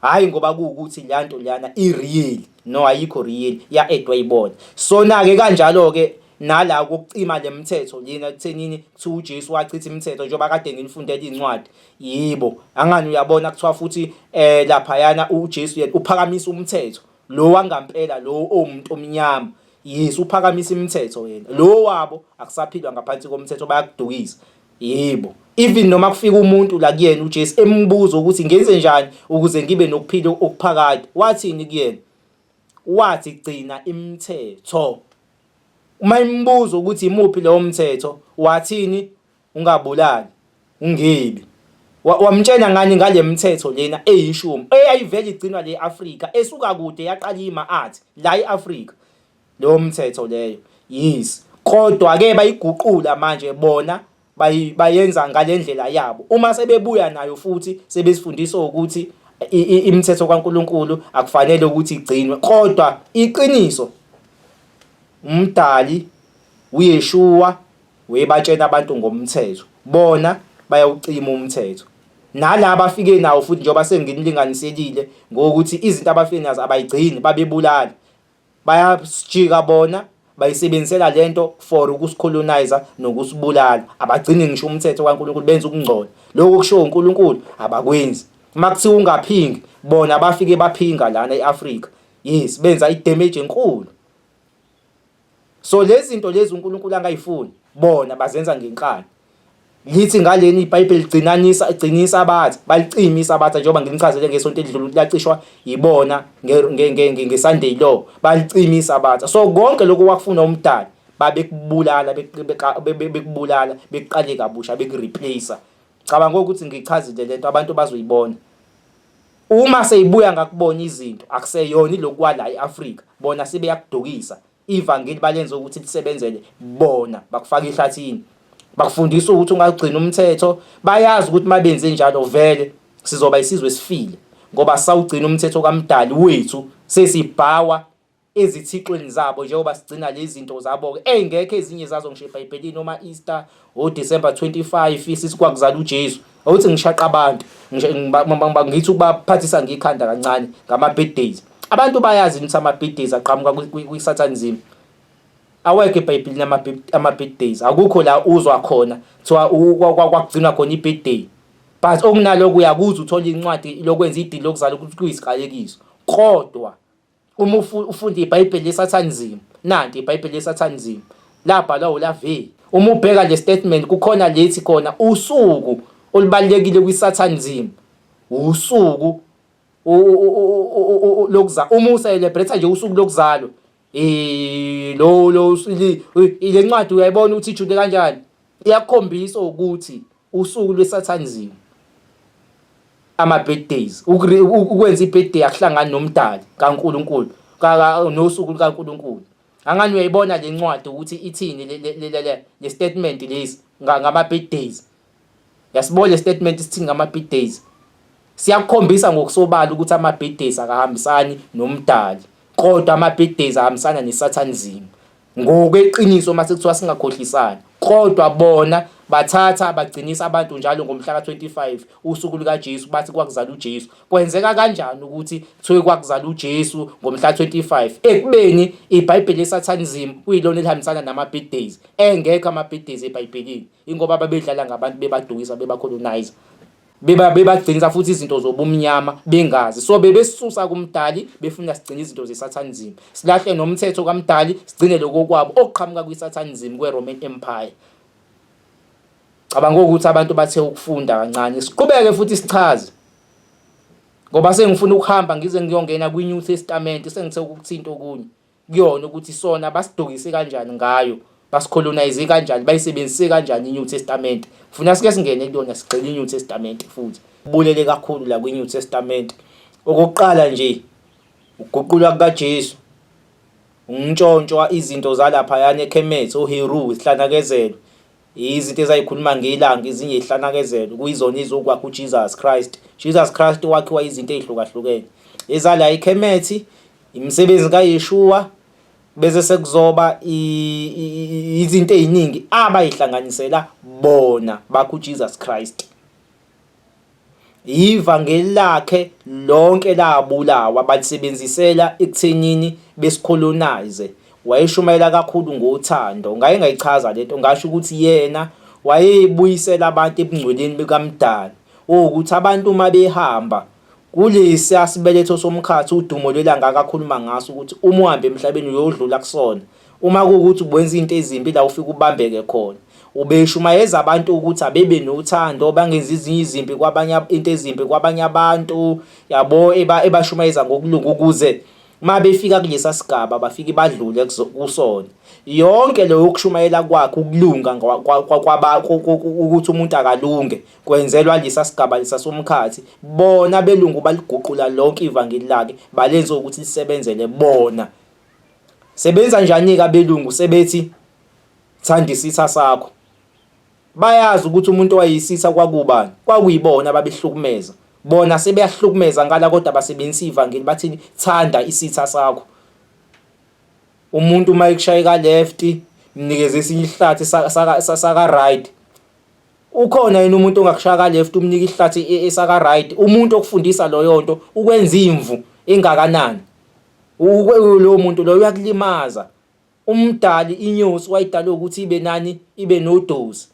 hhayi ngoba kuwukuthi leya nto leyana i-real no ayikho real ya-edwa ibona sona-ke kanjalo-ke nala kokucima le mthetho lena kuthenini kuthiwa uJesu wachitha imithetho njengoba kade nginifundela iy'ncwadi yibo angani uyabona kuthiwa futhi um eh, laphayana uJesu yena uphakamisa umthetho lo wangampela lo owumuntu omnyama yes uphakamisa imithetho yena lo wabo akusaphilwa ngaphansi komthetho bayakudukisa Yebo, even noma kufika umuntu la kuyena uJesu embuza ukuthi ngenze njani ukuze ngibe nokuphila okuphakade, wathini kuyena? Wathi gcina imithetho. Uma imbuza ukuthi imuphi lowo mthetho, wathini? Ungabulali, ungebi. Wamtshena ngani ngale mithetho lena eyishumi eyayivele igcinwa le Afrika esuka kude yaqala ima-art la e-Afrika. Leyo mthetho leyo. Yes. Kodwa ke bayiguqula manje bona bayenza ngalendlela yabo. Uma sebebuya nayo futhi sebesifundisa ukuthi imithetho kaNkuluNkulu akufanele ukuthi igcinwe kodwa iqiniso umdali uYeshua webatshena abantu ngomthetho bona bayawucima umthetho nalaba afike nawo futhi njengoba senginilinganiselile ngokuthi izinto abafike nazo abayigcini babebulala bayasijika bona bayisebenzisela lento for ukusicolonizer nokusibulala abagcini ngisho umthetho kaNkulunkulu benza ukungcola lokho kushiwo uNkulunkulu abakwenzi uma kuthiwa ungaphingi bona bafike baphinga lana e-Afrika yes benza i-damage enkulu so lezi zinto lezi uNkulunkulu angayifuni bona bazenza ngenkani Ngithi ngaleni iBhayibheli ligcinanisa igcinisa abathi balicimisa abathi njengoba nginichazele ngesonto elidlule ukuthi lacishwa yibona ngeSunday law balicimisa abathi so konke lokho wakufuna umdali babekubulala bekubulala bekuqale kabusha bekureplace cabanga ukuthi ngichazile lento abantu bazoyibona uma seyibuya ngakubona izinto akuseyona ilokuwala eAfrika bona sebeyakudukisa Ivangeli balenza ukuthi lisebenzele bona, bakufaka ehlathini. Bakufundisa ukuthi ungagcina umthetho, bayazi ukuthi mabenze njalo vele sizoba isizwe esifile ngoba sawugcina umthetho kaMdali wethu sesibhawa ezithixweni zabo njengoba sigcina lezi zinto zabo-ke ey'ngekho ezinye zazo ngisho ebhayibhelini oma-easter o December 25 isisi kwakuzala uJesu awuthi ngishaqa abantu ngithi ukubaphathisa ngikhanda kancane ngama birthdays abantu bayazi ukuthi ama birthdays aqhamuka kwi satanism awekho ebhayibhelini ama birthdays akukho la uzwa khona kuthiwa kwakugcina khona i birthday but okunaloko uyakuzwa uthola incwadi lokwenza idili lokuzala ukuthi kuyisiqalekiso kodwa uma ufunda ibhayibheli lesathanizim nanti ibhayibheli lesathanizim labhalwa ulaveli uma ubheka le statement kukhona lethi khona usuku olubalekile kwisathanizim usuku lokuza uma ucelebrate nje usuku lokuzalwa eh lo lo le ncwadi uyayibona ukuthi ijude kanjani iyakhombisa ukuthi Usuku lweSathanziwe. Ama-birthdays. Ukwenza i-birthday akuhlangani nomdali kaNkulunkulu nosuku lukaNkulunkulu. Angani uyayibona le ncwadi ukuthi ithini le statement lesi ngama-birthdays. Yasibona le statement isithini ngama-birthdays. Siyakukhombisa ngokusobala ukuthi ama-birthdays akahambisani nomdali kodwa ama-birthdays ahambisana neSathanzimu. Ngokweqiniso uma sekuthiwa singakhohlisani kodwa bona bathatha bagcinisa abantu njalo ngomhla ka-25 usuku lukaJesu bathi kwakuzala uJesu kwenzeka kanjani ukuthi kuthiwe kwakuzala uJesu ngomhla 25 ekubeni iBhayibheli lesathanism kuyilona elihambisana nama-big days engekho ama-big days eBhayibhelini ingoba babedlala ngabantu bebadukisa bebacolonizer beba bebagcinisa futhi izinto zobumnyama bengazi so bebesusa kumdali befuna sigcine izinto zesathanism silahle nomthetho kamdali sigcine lokho kwabo okuqhamuka kwisathanism kweRoman Empire cabanga ukuthi abantu bathe ukufunda kancane siqhubeke futhi sichaze ngoba sengifuna ukuhamba ngize ngiyongena kwiNew Testament sengithe ukuthinta okunye kuyona ukuthi sona basidukise kanjani ngayo basicolonize kanjani bayisebenzise kanjani iNew Testament ngifuna sike singene kuyona sigxile iNew Testament futhi bulele kakhulu la kwiNew Testament okokuqala nje ukuguqulwa kukaJesu untshontshwa izinto zalapha yana eKhemethe uHeru isihlanakezelo Izinto ezayikhuluma ngelanga izinye ihlanakezelo kuyizona izokwakha uJesus Christ. Jesus Christ wakhiwa izinto ezihlukahlukene. Ezala ikhemethi, imisebenzi kaYeshua bese sekuzoba izinto eziningi abayihlanganisela bona bakho uJesus Christ. Yiva ngelakhe lonke labulawa balisebenzisela ekuthenini besicolonize wayeshumayela kakhulu ngothando ngaye ngayichaza lento ngasho ukuthi yena wayebuyisela abantu ebungcweleni bukamdali ukuthi abantu uma behamba Kulesiya sibeletho somkhathi udumo lwelanga akakhuluma ngaso ukuthi uma uhamba emhlabeni uyodlula kusona. Uma kuwukuthi ubenza izinto ezimbi la ufike ubambeke khona. Ubeshumayeza abantu ukuthi abebe nothando bangenzi ezinye izimpi kwabanye into ezimbi kwabanye abantu yabo ebashumayeza ngokulunga ukuze uma befika kulesa sigaba bafike badlule kusona yonke leyo yokushumayela kwakhe ukulunga ukuthi umuntu akalunge Kwenzelwa lesa sigaba lesa somkhathi, bona abelungu baliguqula lonke ivangeli lakhe balenza ukuthi lisebenzele bona. Sebenza njani-ke abelungu sebethi thanda isitha sakho? Bayazi ukuthi umuntu owayisitha kwakubani, kwakuyibona ababehlukumeza. Bona sebeyahlukumeza ngala kodwa basebenzisa ivangeli bathini thanda isitha sakho. Umuntu uma ekushayeka left mnikeze esinye isihlathi saka right ukhona yini umuntu ongakushaya ka left umnika ihlathi e, e, esaka right umuntu okufundisa loyo nto ukwenza imvu engakanani lowo muntu loyo uyakulimaza umdali inyosi wayidala ukuthi ibe nani ibe nodozi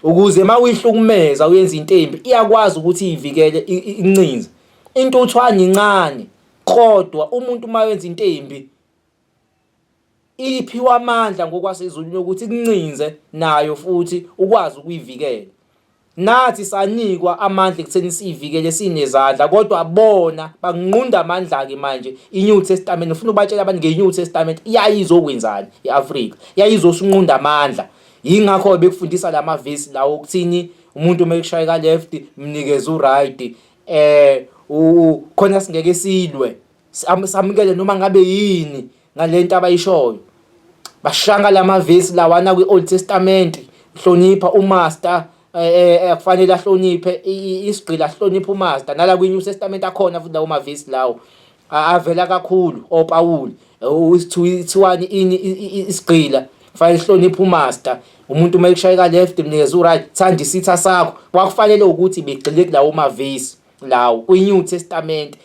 ukuze uma uyihlukumeza uyenza into embi iyakwazi ukuthi iyivikele incinze intuthwane incane kodwa umuntu uma wenza into embi Iphiwe amandla ngokwasezulwini okuthi ikuncinze nayo futhi ukwazi ukuyivikela. Nathi sanikwa amandla ekutheni siyivikele sinezandla kodwa bona bakunqunda amandla-ke manje i-New Testament ufuna ubatshela abantu nge-New Testament yayizokwenzani i-Afrika yayizosinqunda amandla yingakho bekufundisa la mavesi lawo okuthini umuntu uma ekushaya ka-left mnikeze u-right eh khona singeke silwe samukele noma ngabe yini ngalento abayishoyo bashanga lamavesi lawana kwi-Old Testament hlonipha umaster akufanele eh, eh, eh, ahloniphe isigqila ahloniphe umaster nala kwi-New Testament akhona futhi lawo mavesi lawo avela kakhulu oPawulu usithiwani ini isigqila fanele hloniphe umaster umuntu uma ekushayeka left mnikeza uright thanda isitha sakho kwakufanele ukuthi begxile kulawo mavesi lawo kwi-New Testament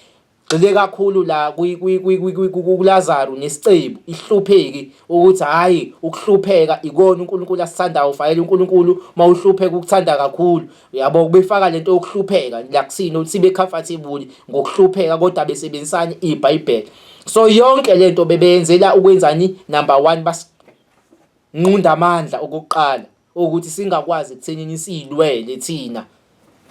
Gxile kakhulu la kuLazaru nesicebu ihlupheki ukuthi hhayi ukuhlupheka ikona uNkulunkulu asithandayo ufayela uNkulunkulu uma uhlupheka ukuthanda kakhulu yabo ubefaka lento yokuhlupheka la kusini ukuthi sibe comfortable ngokuhlupheka kodwa besebenzisani ibhayibheli so yonke lento bebeyenzela ukwenzani number 1 basinqunda amandla okuqala ukuthi singakwazi ekuthenini siyilwele thina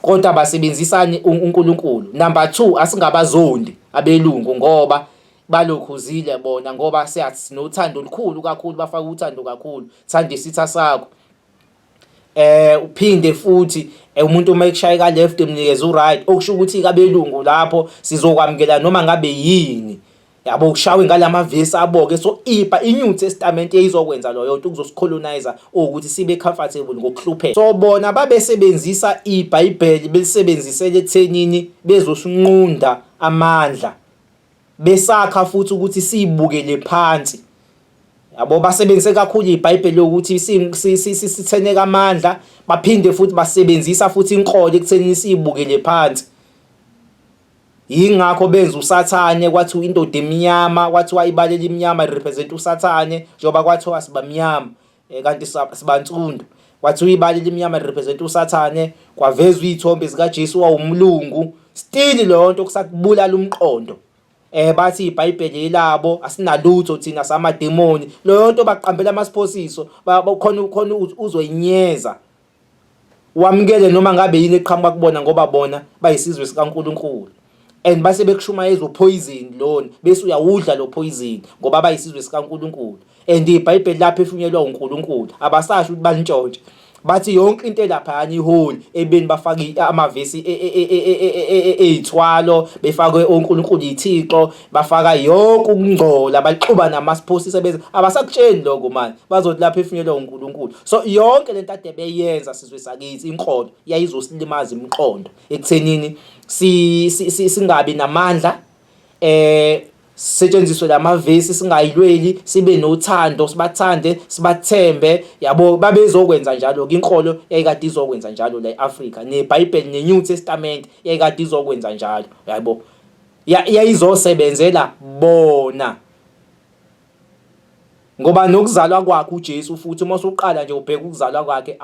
kodwa basebenzisane uNkulunkulu number 2 asingabazondi abelungu ngoba balokhuzile bona ngoba siyathi nothando olukhulu kakhulu bafaka uthando kakhulu thanda isitha sakho eh uphinde futhi eh, umuntu uma ekushaya ka left emnikeza u right okusho ukuthi kabelungu lapho sizokwamukela noma ngabe yini yabo ushawe ngalama vesi aboke so ipa inyuthi testament eyizokwenza loyo nto kuzosicolonizer ukuthi sibe comfortable ngokuhlupheka so bona babesebenzisa ibhayibheli belisebenzisele ethenini bezosinqunda amandla besakha futhi ukuthi siyibukele phansi yabo basebenzise kakhulu ibhayibheli ukuthi sitheneka amandla baphinde futhi basebenzisa futhi inkolo ekuthenini siyibukele phansi Yingakho benza usathane kwathiwa indoda emnyama kwathiwa ibala elimnyama represent usathane njengoba kwathiwa sibamnyama eh, kanti sibansundu kwathiwa ibala elimnyama represent usathane kwavezwa izithombe zika Jesu wawumlungu still leyo nto kusakubulala umqondo eh bathi iBhayibheli elabo asinalutho thina samademoni leyo nto baqambela amasiphosiso khona khona uzoyinyeza wamukele noma ngabe yini eqhamuka kubona ngoba bona bayisizwe sikaNkulunkulu and base bekushumayeza uphoyizini lona bese uyawudla lo phoyizini ngoba bayisizwe sikaNkulunkulu and ibhayibheli lapho efunyeelwa uNkulunkulu abasasho ukuthi balintshontshe bathi yonke into elaphayana iholi ebeni bafake amavesi ey'thwalo befakwe onkulunkulu yithixo bafaka yonke ukungcola baxuba namasiphosi sebenza abasakutsheni lokho manje bazothi lapha efinyelwa uNkulunkulu so yonke lento ade beyenza sizwe sakithi inkolo yayizosilimaza imiqondo ekuthenini si singabi namandla eh setshenziswe lamavesi singayilweli sibe nothando sibathande sibathembe yabo babezokwenza njalo ke inkolo yayikade izokwenza njalo la eAfrika neBhayibheli neNew Testament yayikade izokwenza njalo yabo yayizosebenzela bona ngoba nokuzalwa kwakhe uJesu futhi uma usuqala nje ubheka ukuzalwa kwakhe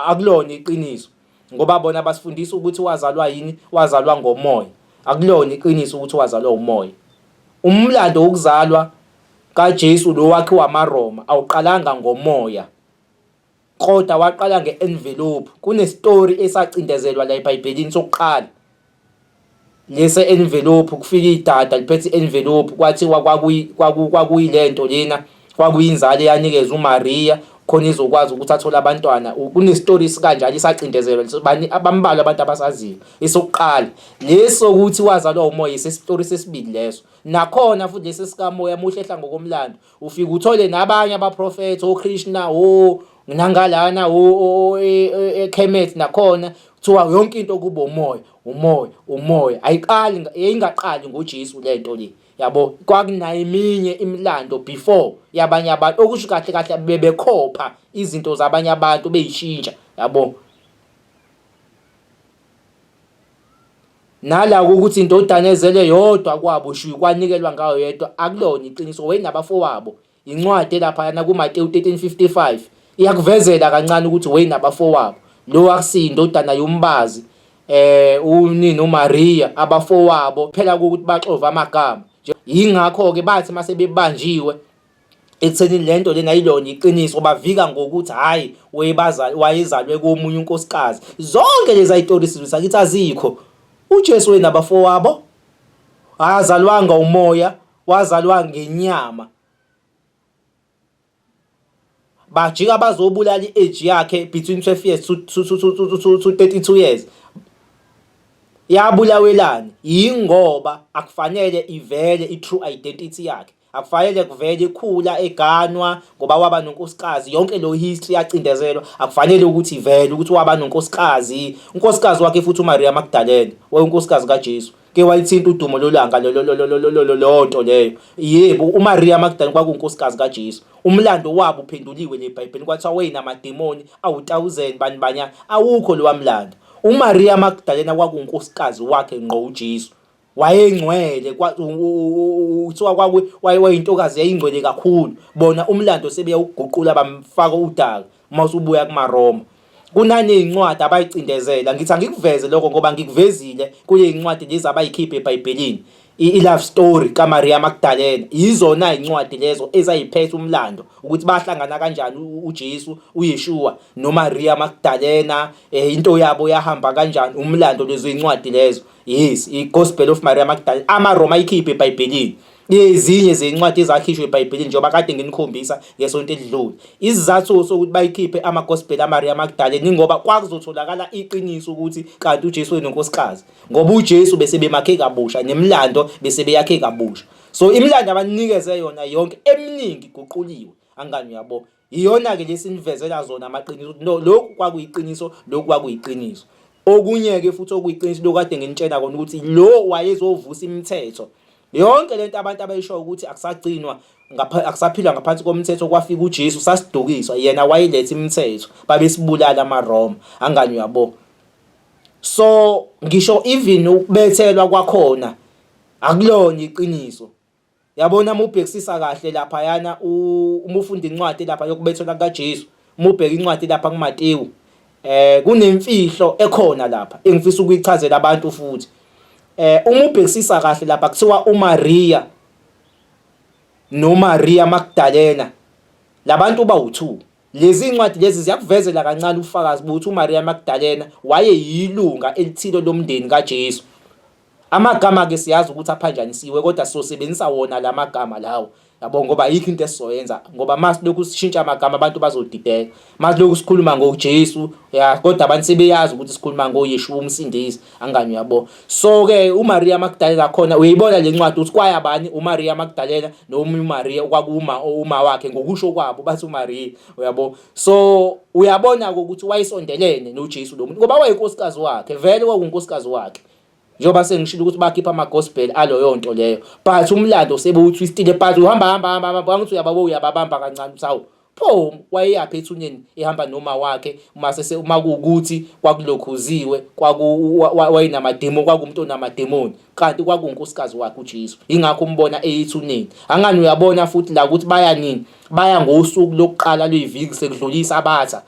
akulona iqiniso ngoba bona basifundisa ukuthi wazalwa yini wazalwa ngomoya akulona iqiniso ukuthi wazalwa umoya umlando wokuzalwa kaJesu lo wakhe wamaRoma awuqalanga ngomoya Koda waqala nge-envelope. Kunestori esacindezelwa la eBhayibhelini sokuqala. Lese envelope kufika idada liphethe envelope kwathi kwakuyi kwakuyi lento lena kwakuyinzalo eyanikezwa uMaria khona izokwazi ukuthi athole abantwana kunestori sikanjalo isacindezelwa bani abambalwa abantu abasaziyo esokuqala leso ukuthi wazalwa umoya isesitori sesibili leso nakhona futhi lesi sikamoya muhle ehla ngokomlando ufike uthole nabanye abaprofethi oKrishna o nangalana o e, e, eKhemet nakhona kuthiwa yonke into kubo umoya umoya umoya ayiqali yayingaqali ngoJesu lento le yabo kwakunayo eminye imilando before yabanye abantu okusho kahle kahle bebekhopha izinto zabanye abantu beyishintsha yabo Nala ukuthi indodana ezele yodwa kwabo shwi kwanikelwa ngayo yedwa akulona iqiniso wena abafowabo incwadi elaphayana kuMateyu 13:55 iyakuvezela kancane ukuthi wena abafowabo lo akusiyi indodana yombazi eh unini uMaria abafowabo phela ukuthi baxova amagama yingakho ke bathi mase bebanjiwe ekutheni le nto lena yilona iqiniso bavika ngokuthi hhayi wayezalwe komunye unkosikazi zonke lezi ay'tori sizwe sakithi azikho ujesu wenabafowabo akazalwanga umoya wazalwa ngenyama bajika bazobulala i-age yakhe between 12 years to 32 years yabulawelani yingoba akufanele ivele i-true identity yakhe akufanele kuvele ikhula eganwa ngoba waba nonkosikazi yonke lo history yacindezelwa akufanele ukuthi ivele ukuthi waba nonkosikazi unkosikazi wakhe futhi uMaria Magdalena wayenkosikazi kaJesu ke walithinta udumo lolanga lonto leyo yebo uMaria Magdalena kwakunkosikazi kaJesu umlando wabo uphenduliwe leBhayibheli kwathiwa wayinamademoni awu1000 bani banyana awukho lowa mlando uMaria Magdalena kwakunkosikazi wakhe ngqo uJesu wayengcwele kuthiwa kwaku wayintokazi yayingcwele kakhulu bona umlando sebeyawuguqula bamfaka udaka uma usubuya kumaRoma kunanezincwadi abayicindezela ngithi angikuveze lokho ngoba ngikuvezile kulezincwadi lezi abayikhiphe eBhayibhelini i-love story kaMaria Magdalena yizona izincwadi lezo ezayiphetha umlando ukuthi bahlangana kanjani uJesu uYeshua noMaria Magdalena eh, into yabo yahamba kanjani umlando lezo zincwadi lezo yes i-gospel of maria magdalene amaroma ayikhiphe ebhayibhelini ezinye zencwadi ezakhishwe ebhayibhelini njengoba kade nginikhombisa ngesonto elidlule isizathu sokuthi bayikhiphe amagospel amaria magdalene ingoba kwakuzotholakala iqiniso ukuthi kanti ujesu wenonkosikazi ngoba ujesu bese bemakhe kabusha nemilando bese beyakhe kabusha so imilando abanikeze yona yonke eminingi iguquliwe angani uyabo Iyona-ke le sinivezela zona amaqiniso ukuthi no lokhu kwakuyiqiniso, lokhu kwakuyiqiniso. Okunye-ke futhi okuyiqiniso lokhu kade nginitshela kona ukuthi lo wayezovusa imithetho. Yonke le nto abantu abayishoyo ukuthi akusagcinwa akusaphilwa ngaphansi komthetho kwafika uJesu sasidukiswa yena wayiletha imithetho babesibulala amaRoma angani uyabo so ngisho even ukubethelwa kwakhona akulona iqiniso Yabona uma ubhekisisa kahle laphayana uma ufunda incwadi lapha yokubethelwa kukaJesu, uma ubheka incwadi lapha kuMatewu, eh kunemfihlo ekhona lapha engifisa ukuyichazela abantu futhi. Eh uma ubhekisisa kahle lapha kuthiwa uMaria noMaria Magdalena labantu bawu2. Lezi incwadi lezi ziyakuvezela kancane ufakazi bokuthi uMaria Magdalena wayeyilunga elithile lomndeni kaJesu. Amagama ke siyazi ukuthi aphanjanisiwe kodwa sosebenzisa wona lamagama lawo yabo ngoba yikho into esizoyenza ngoba mase lokhu sishintsha amagama abantu bazodideka mase lokhu sikhuluma ngoJesu ya kodwa abantu sebeyazi ukuthi sikhuluma ngoYeshuwa umsindisi angani yabo so ke uMaria Magdalena khona uyibona lencwadi ukuthi kwaya bani uMaria Magdalena noma uMaria kwakuma uma wakhe ngokusho kwabo bathi uMaria uyabo so uyabona ukuthi wayesondelene noJesu lo muntu ngoba wayenkosikazi wakhe vele kwakunkosikazi wakhe njengoba sengishilo ukuthi bakhipha ama-gospel aloyo nto leyo but umlando sebewuthwistile but uhamba hamba hamba hamba bangithi uyababa uyababamba kancane uthi hawu pho wayeyaphi ethuneni ehamba noma wakhe uma sese uma kuwukuthi kwakulokhuziwe kwaku wayenamademo kwakumuntu onamademoni kanti kwakunkosikazi wakhe uJesu ingakho umbona eyithuneni angani uyabona futhi la ukuthi baya nini baya ngosuku lokuqala lweviki sekudlulisa abatha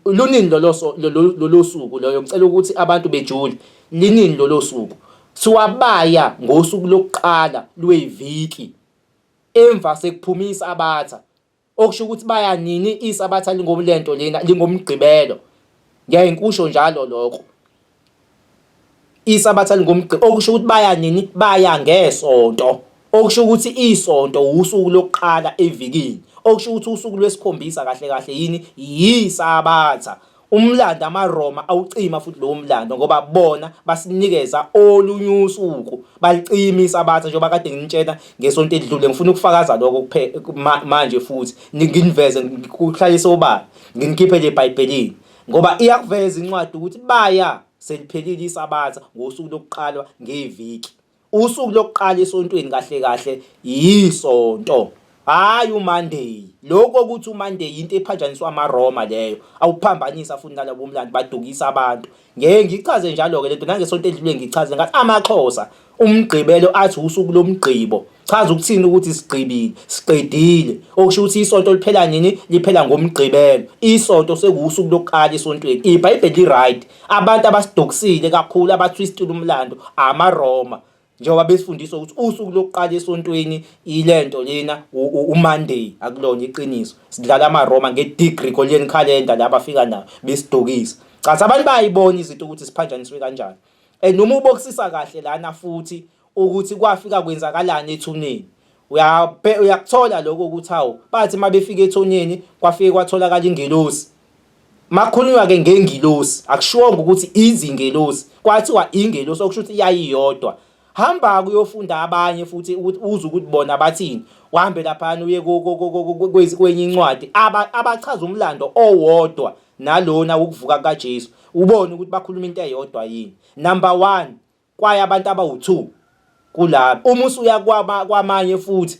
Lunini loloso lolosuku loyo ngicela ukuthi abantu bejule linini lolosuku siwabaya ngosuku lokuqala lweviki emva sekuphuma isabatha okusho ukuthi baya nini isabatha lingomlento lena lingomgqibelo ngiyaye ngikusho njalo lokho Isabatha lingomgqibelo okusho ukuthi baya nini? Baya ngeSonto. Okusho ukuthi iSonto wusuku lokuqala evikini. Okusho ukuthi usuku lwesikhombisa kahle kahle yini? YiSabatha. Umlando amaRoma awucima futhi lowo mlando ngoba bona basinikeza olunye usuku balicima isabatha njengoba kade nginitshena ngesonto elidlule ngifuna ukufakaza lokho kuphela manje futhi nginiveze ngikuhlalise obala nginikhiphe le bhayibhelini Ngoba iyakuveza incwadi ukuthi baya seliphelile isabatha ngosuku lokuqalwa ngeviki. Usuku lokuqala esontweni kahle kahle yisonto. Hayi uMonday. Lokho ukuthi uMonday into ephatshaniswa amaRoma leyo. Awuphambanisa futhi nalabo mlandi badukisa abantu. Ngeke ngichaze njalo ke lento nangesonto edlule ngichaze ngathi amaXhosa umgqibelo athi usuku lomgqibo chaza ukuthini ukuthi sigqibile siqedile okusho ukuthi isonto liphela nini liphela ngomgqibelo isonto sekuwusuku lokuqala esontweni ibhayibheli li-right abantu abasidokisile kakhulu abathwistile umlando amaroma njengoba besifundisa ukuthi usuku lokuqala esontweni ilento lena umonday akulona iqiniso sidlala amaroma nge-degregorian calendar la bafika nayo besidokisa cathi abantu bayayibona izinto ukuthi siphanjaniswe kanjani and uma ubokisisa kahle lana futhi ukuthi kwafika kwenzakalani ethuneni uyabhe uyakuthola lokho ukuthi hawu bathi mabefika ethonyeni kwafike kwatholakala ingelosi makhulunywa ke ngengilosi akushiwonga ukuthi izingelosi kwathiwa ingelosi okusho ukuthi yayiyodwa hamba kuyofunda abanye futhi ukuthi uze ukuthi bona bathini uhambe laphana uye kwenye incwadi abachaza umlando owodwa nalona wokuvuka kukaJesu ubone ukuthi bakhuluma into eyodwa yini number 1 kwaye abantu abawu2 kulabo uma usuya kwamanye futhi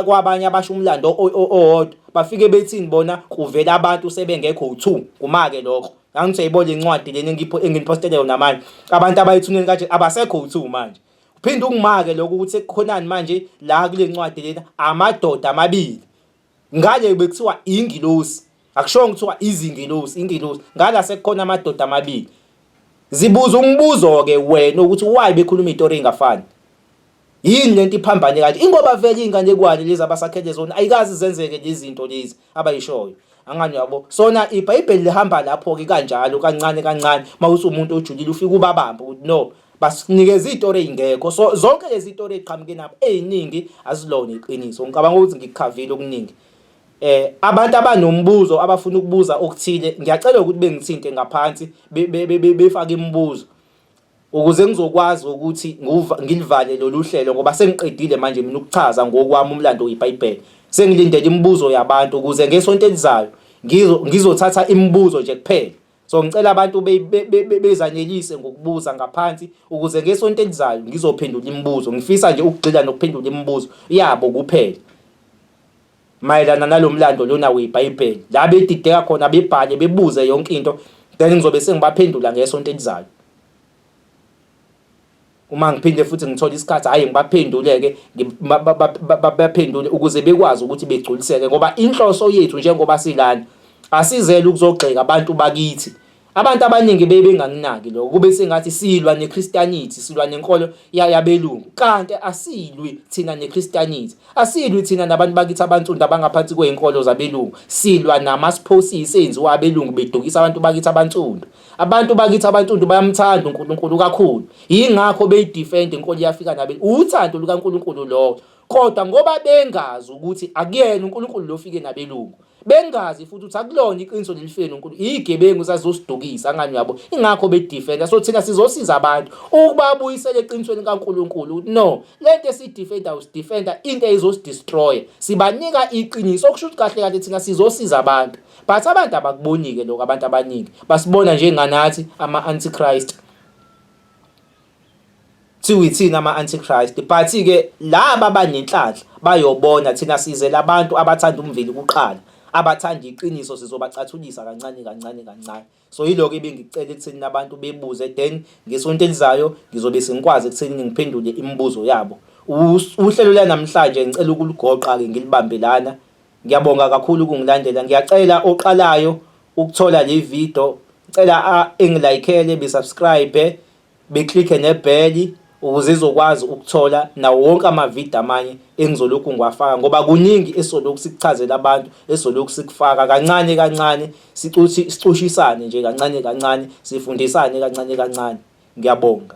kwabanye abasho umlando owodwa bafike bethini bona kuvela abantu sebengekho u2 kumake lokho Ngangithi uyayibona incwadi lena engipho enginipostele yona manje. Abantu abayithuneni kanje abasekho uthu manje. Uphinde ungimake lokho ukuthi kukhonani manje la kule ncwadi lena amadoda amabili. Ngale bekuthiwa ingilosi. Akushongo kuthiwa izingilosi, ingilosi. Ngala sekukhona amadoda amabili. Zibuza umbuzo ke wena ukuthi why bekhuluma itori engafani. Yini lento iphambane kanti ingoba vele inganekwane lezi abasakhele zona ayikazi zenzeke lezinto lezi abayishoyo angani yabo sona ibhayibheli lihamba lapho ke kanjalo kancane kancane mawuthi umuntu ojulile ufika ubabamba ukuthi no basinikeza izitori ezingekho so zonke lezi zitori eziqhamuke nabo eziningi azilona iqiniso ngicabanga ukuthi ngikukhavile okuningi eh abantu abanombuzo abafuna ukubuza okuthile ngiyacela ukuthi bengithinte ngaphansi befake imibuzo ukuze ngizokwazi ukuthi ngilivale lolu hlelo ngoba sengiqedile manje mina ukuchaza ngokwami umlando weBhayibheli sengilindele imibuzo yabantu ukuze ngesonto elizayo ngizothatha imibuzo nje kuphela so ngicela abantu bezanelise ngokubuza ngaphansi ukuze ngesonto elizayo ngizophendula imibuzo ngifisa nje ukugxila nokuphendula imibuzo yabo kuphela mayelana nalo mlando lona weBhayibheli la bedideka khona bebhale bebuze yonke into then ngizobe sengibaphendula ngesonto elizayo uma ngiphinde futhi ngithola isikhathi hhayi ngibaphendule-ke baphendule ukuze bekwazi ukuthi begculiseke ngoba inhloso yethu njengoba silana asizele ukuzogxeka abantu bakithi Abantu abaningi bebe bengakunaki lokho kube sengathi silwa neChristianity silwa nenkolo yabelungu kanti asilwi thina neChristianity asilwi thina nabantu bakithi abansundu abangaphansi kwezinkolo zabelungu silwa namasiphosis enziwa abelungu bedukisa abantu bakithi abansundu abantu bakithi abansundu bayamthanda uNkulunkulu kakhulu yingakho beyidefend inkolo yafika nabe uthando lukaNkulunkulu lowo Kodwa ngoba bengazi ukuthi akuyena uNkulunkulu lo ofike nabelungu, bengazi futhi ukuthi akulona iqiniso leli fike noNkulunkulu, iyigebengu zazizosidukisa angani uyabo. Ingakho bedefenda. So thina sizosiza abantu ukubabuyisela eqinisweni kaNkulunkulu ukuthi no, lento esidefenda usidefenda into eyizosidestroya. Sibanika iqiniso okusho ukuthi kahle kahle thina sizosiza abantu. But abantu abakubonike lokho abantu abaningi. Basibona njenganathi ama antichrist. Thiwi thina ama antichrist but ke laba abanenhlanhla bayobona thina size labantu abathanda umveli kuqala abathanda iqiniso sizobacathulisa kancane kancane kancane so yiloko ebengicela ekutheni abantu bebuze then ngesonto elizayo ngizobe sengikwazi ekutheni ngiphendule imibuzo yabo uhlelo lanamhlanje ngicela ukuligoqa ke ngilibambe lana Ngiyabonga kakhulu ukungilandela. Ngiyacela oqalayo ukuthola le video, ngicela engilayikhele besubscribe, beklikhe nebheli ukuze izokwazi ukuthola nawo wonke amavidiyo amanye engizolokhu ngiwafaka ngoba kuningi esolokhu sikuchazela abantu esolokhu sikufaka kancane kancane sicuthi sicushisane nje kancane kancane sifundisane kancane kancane ngiyabonga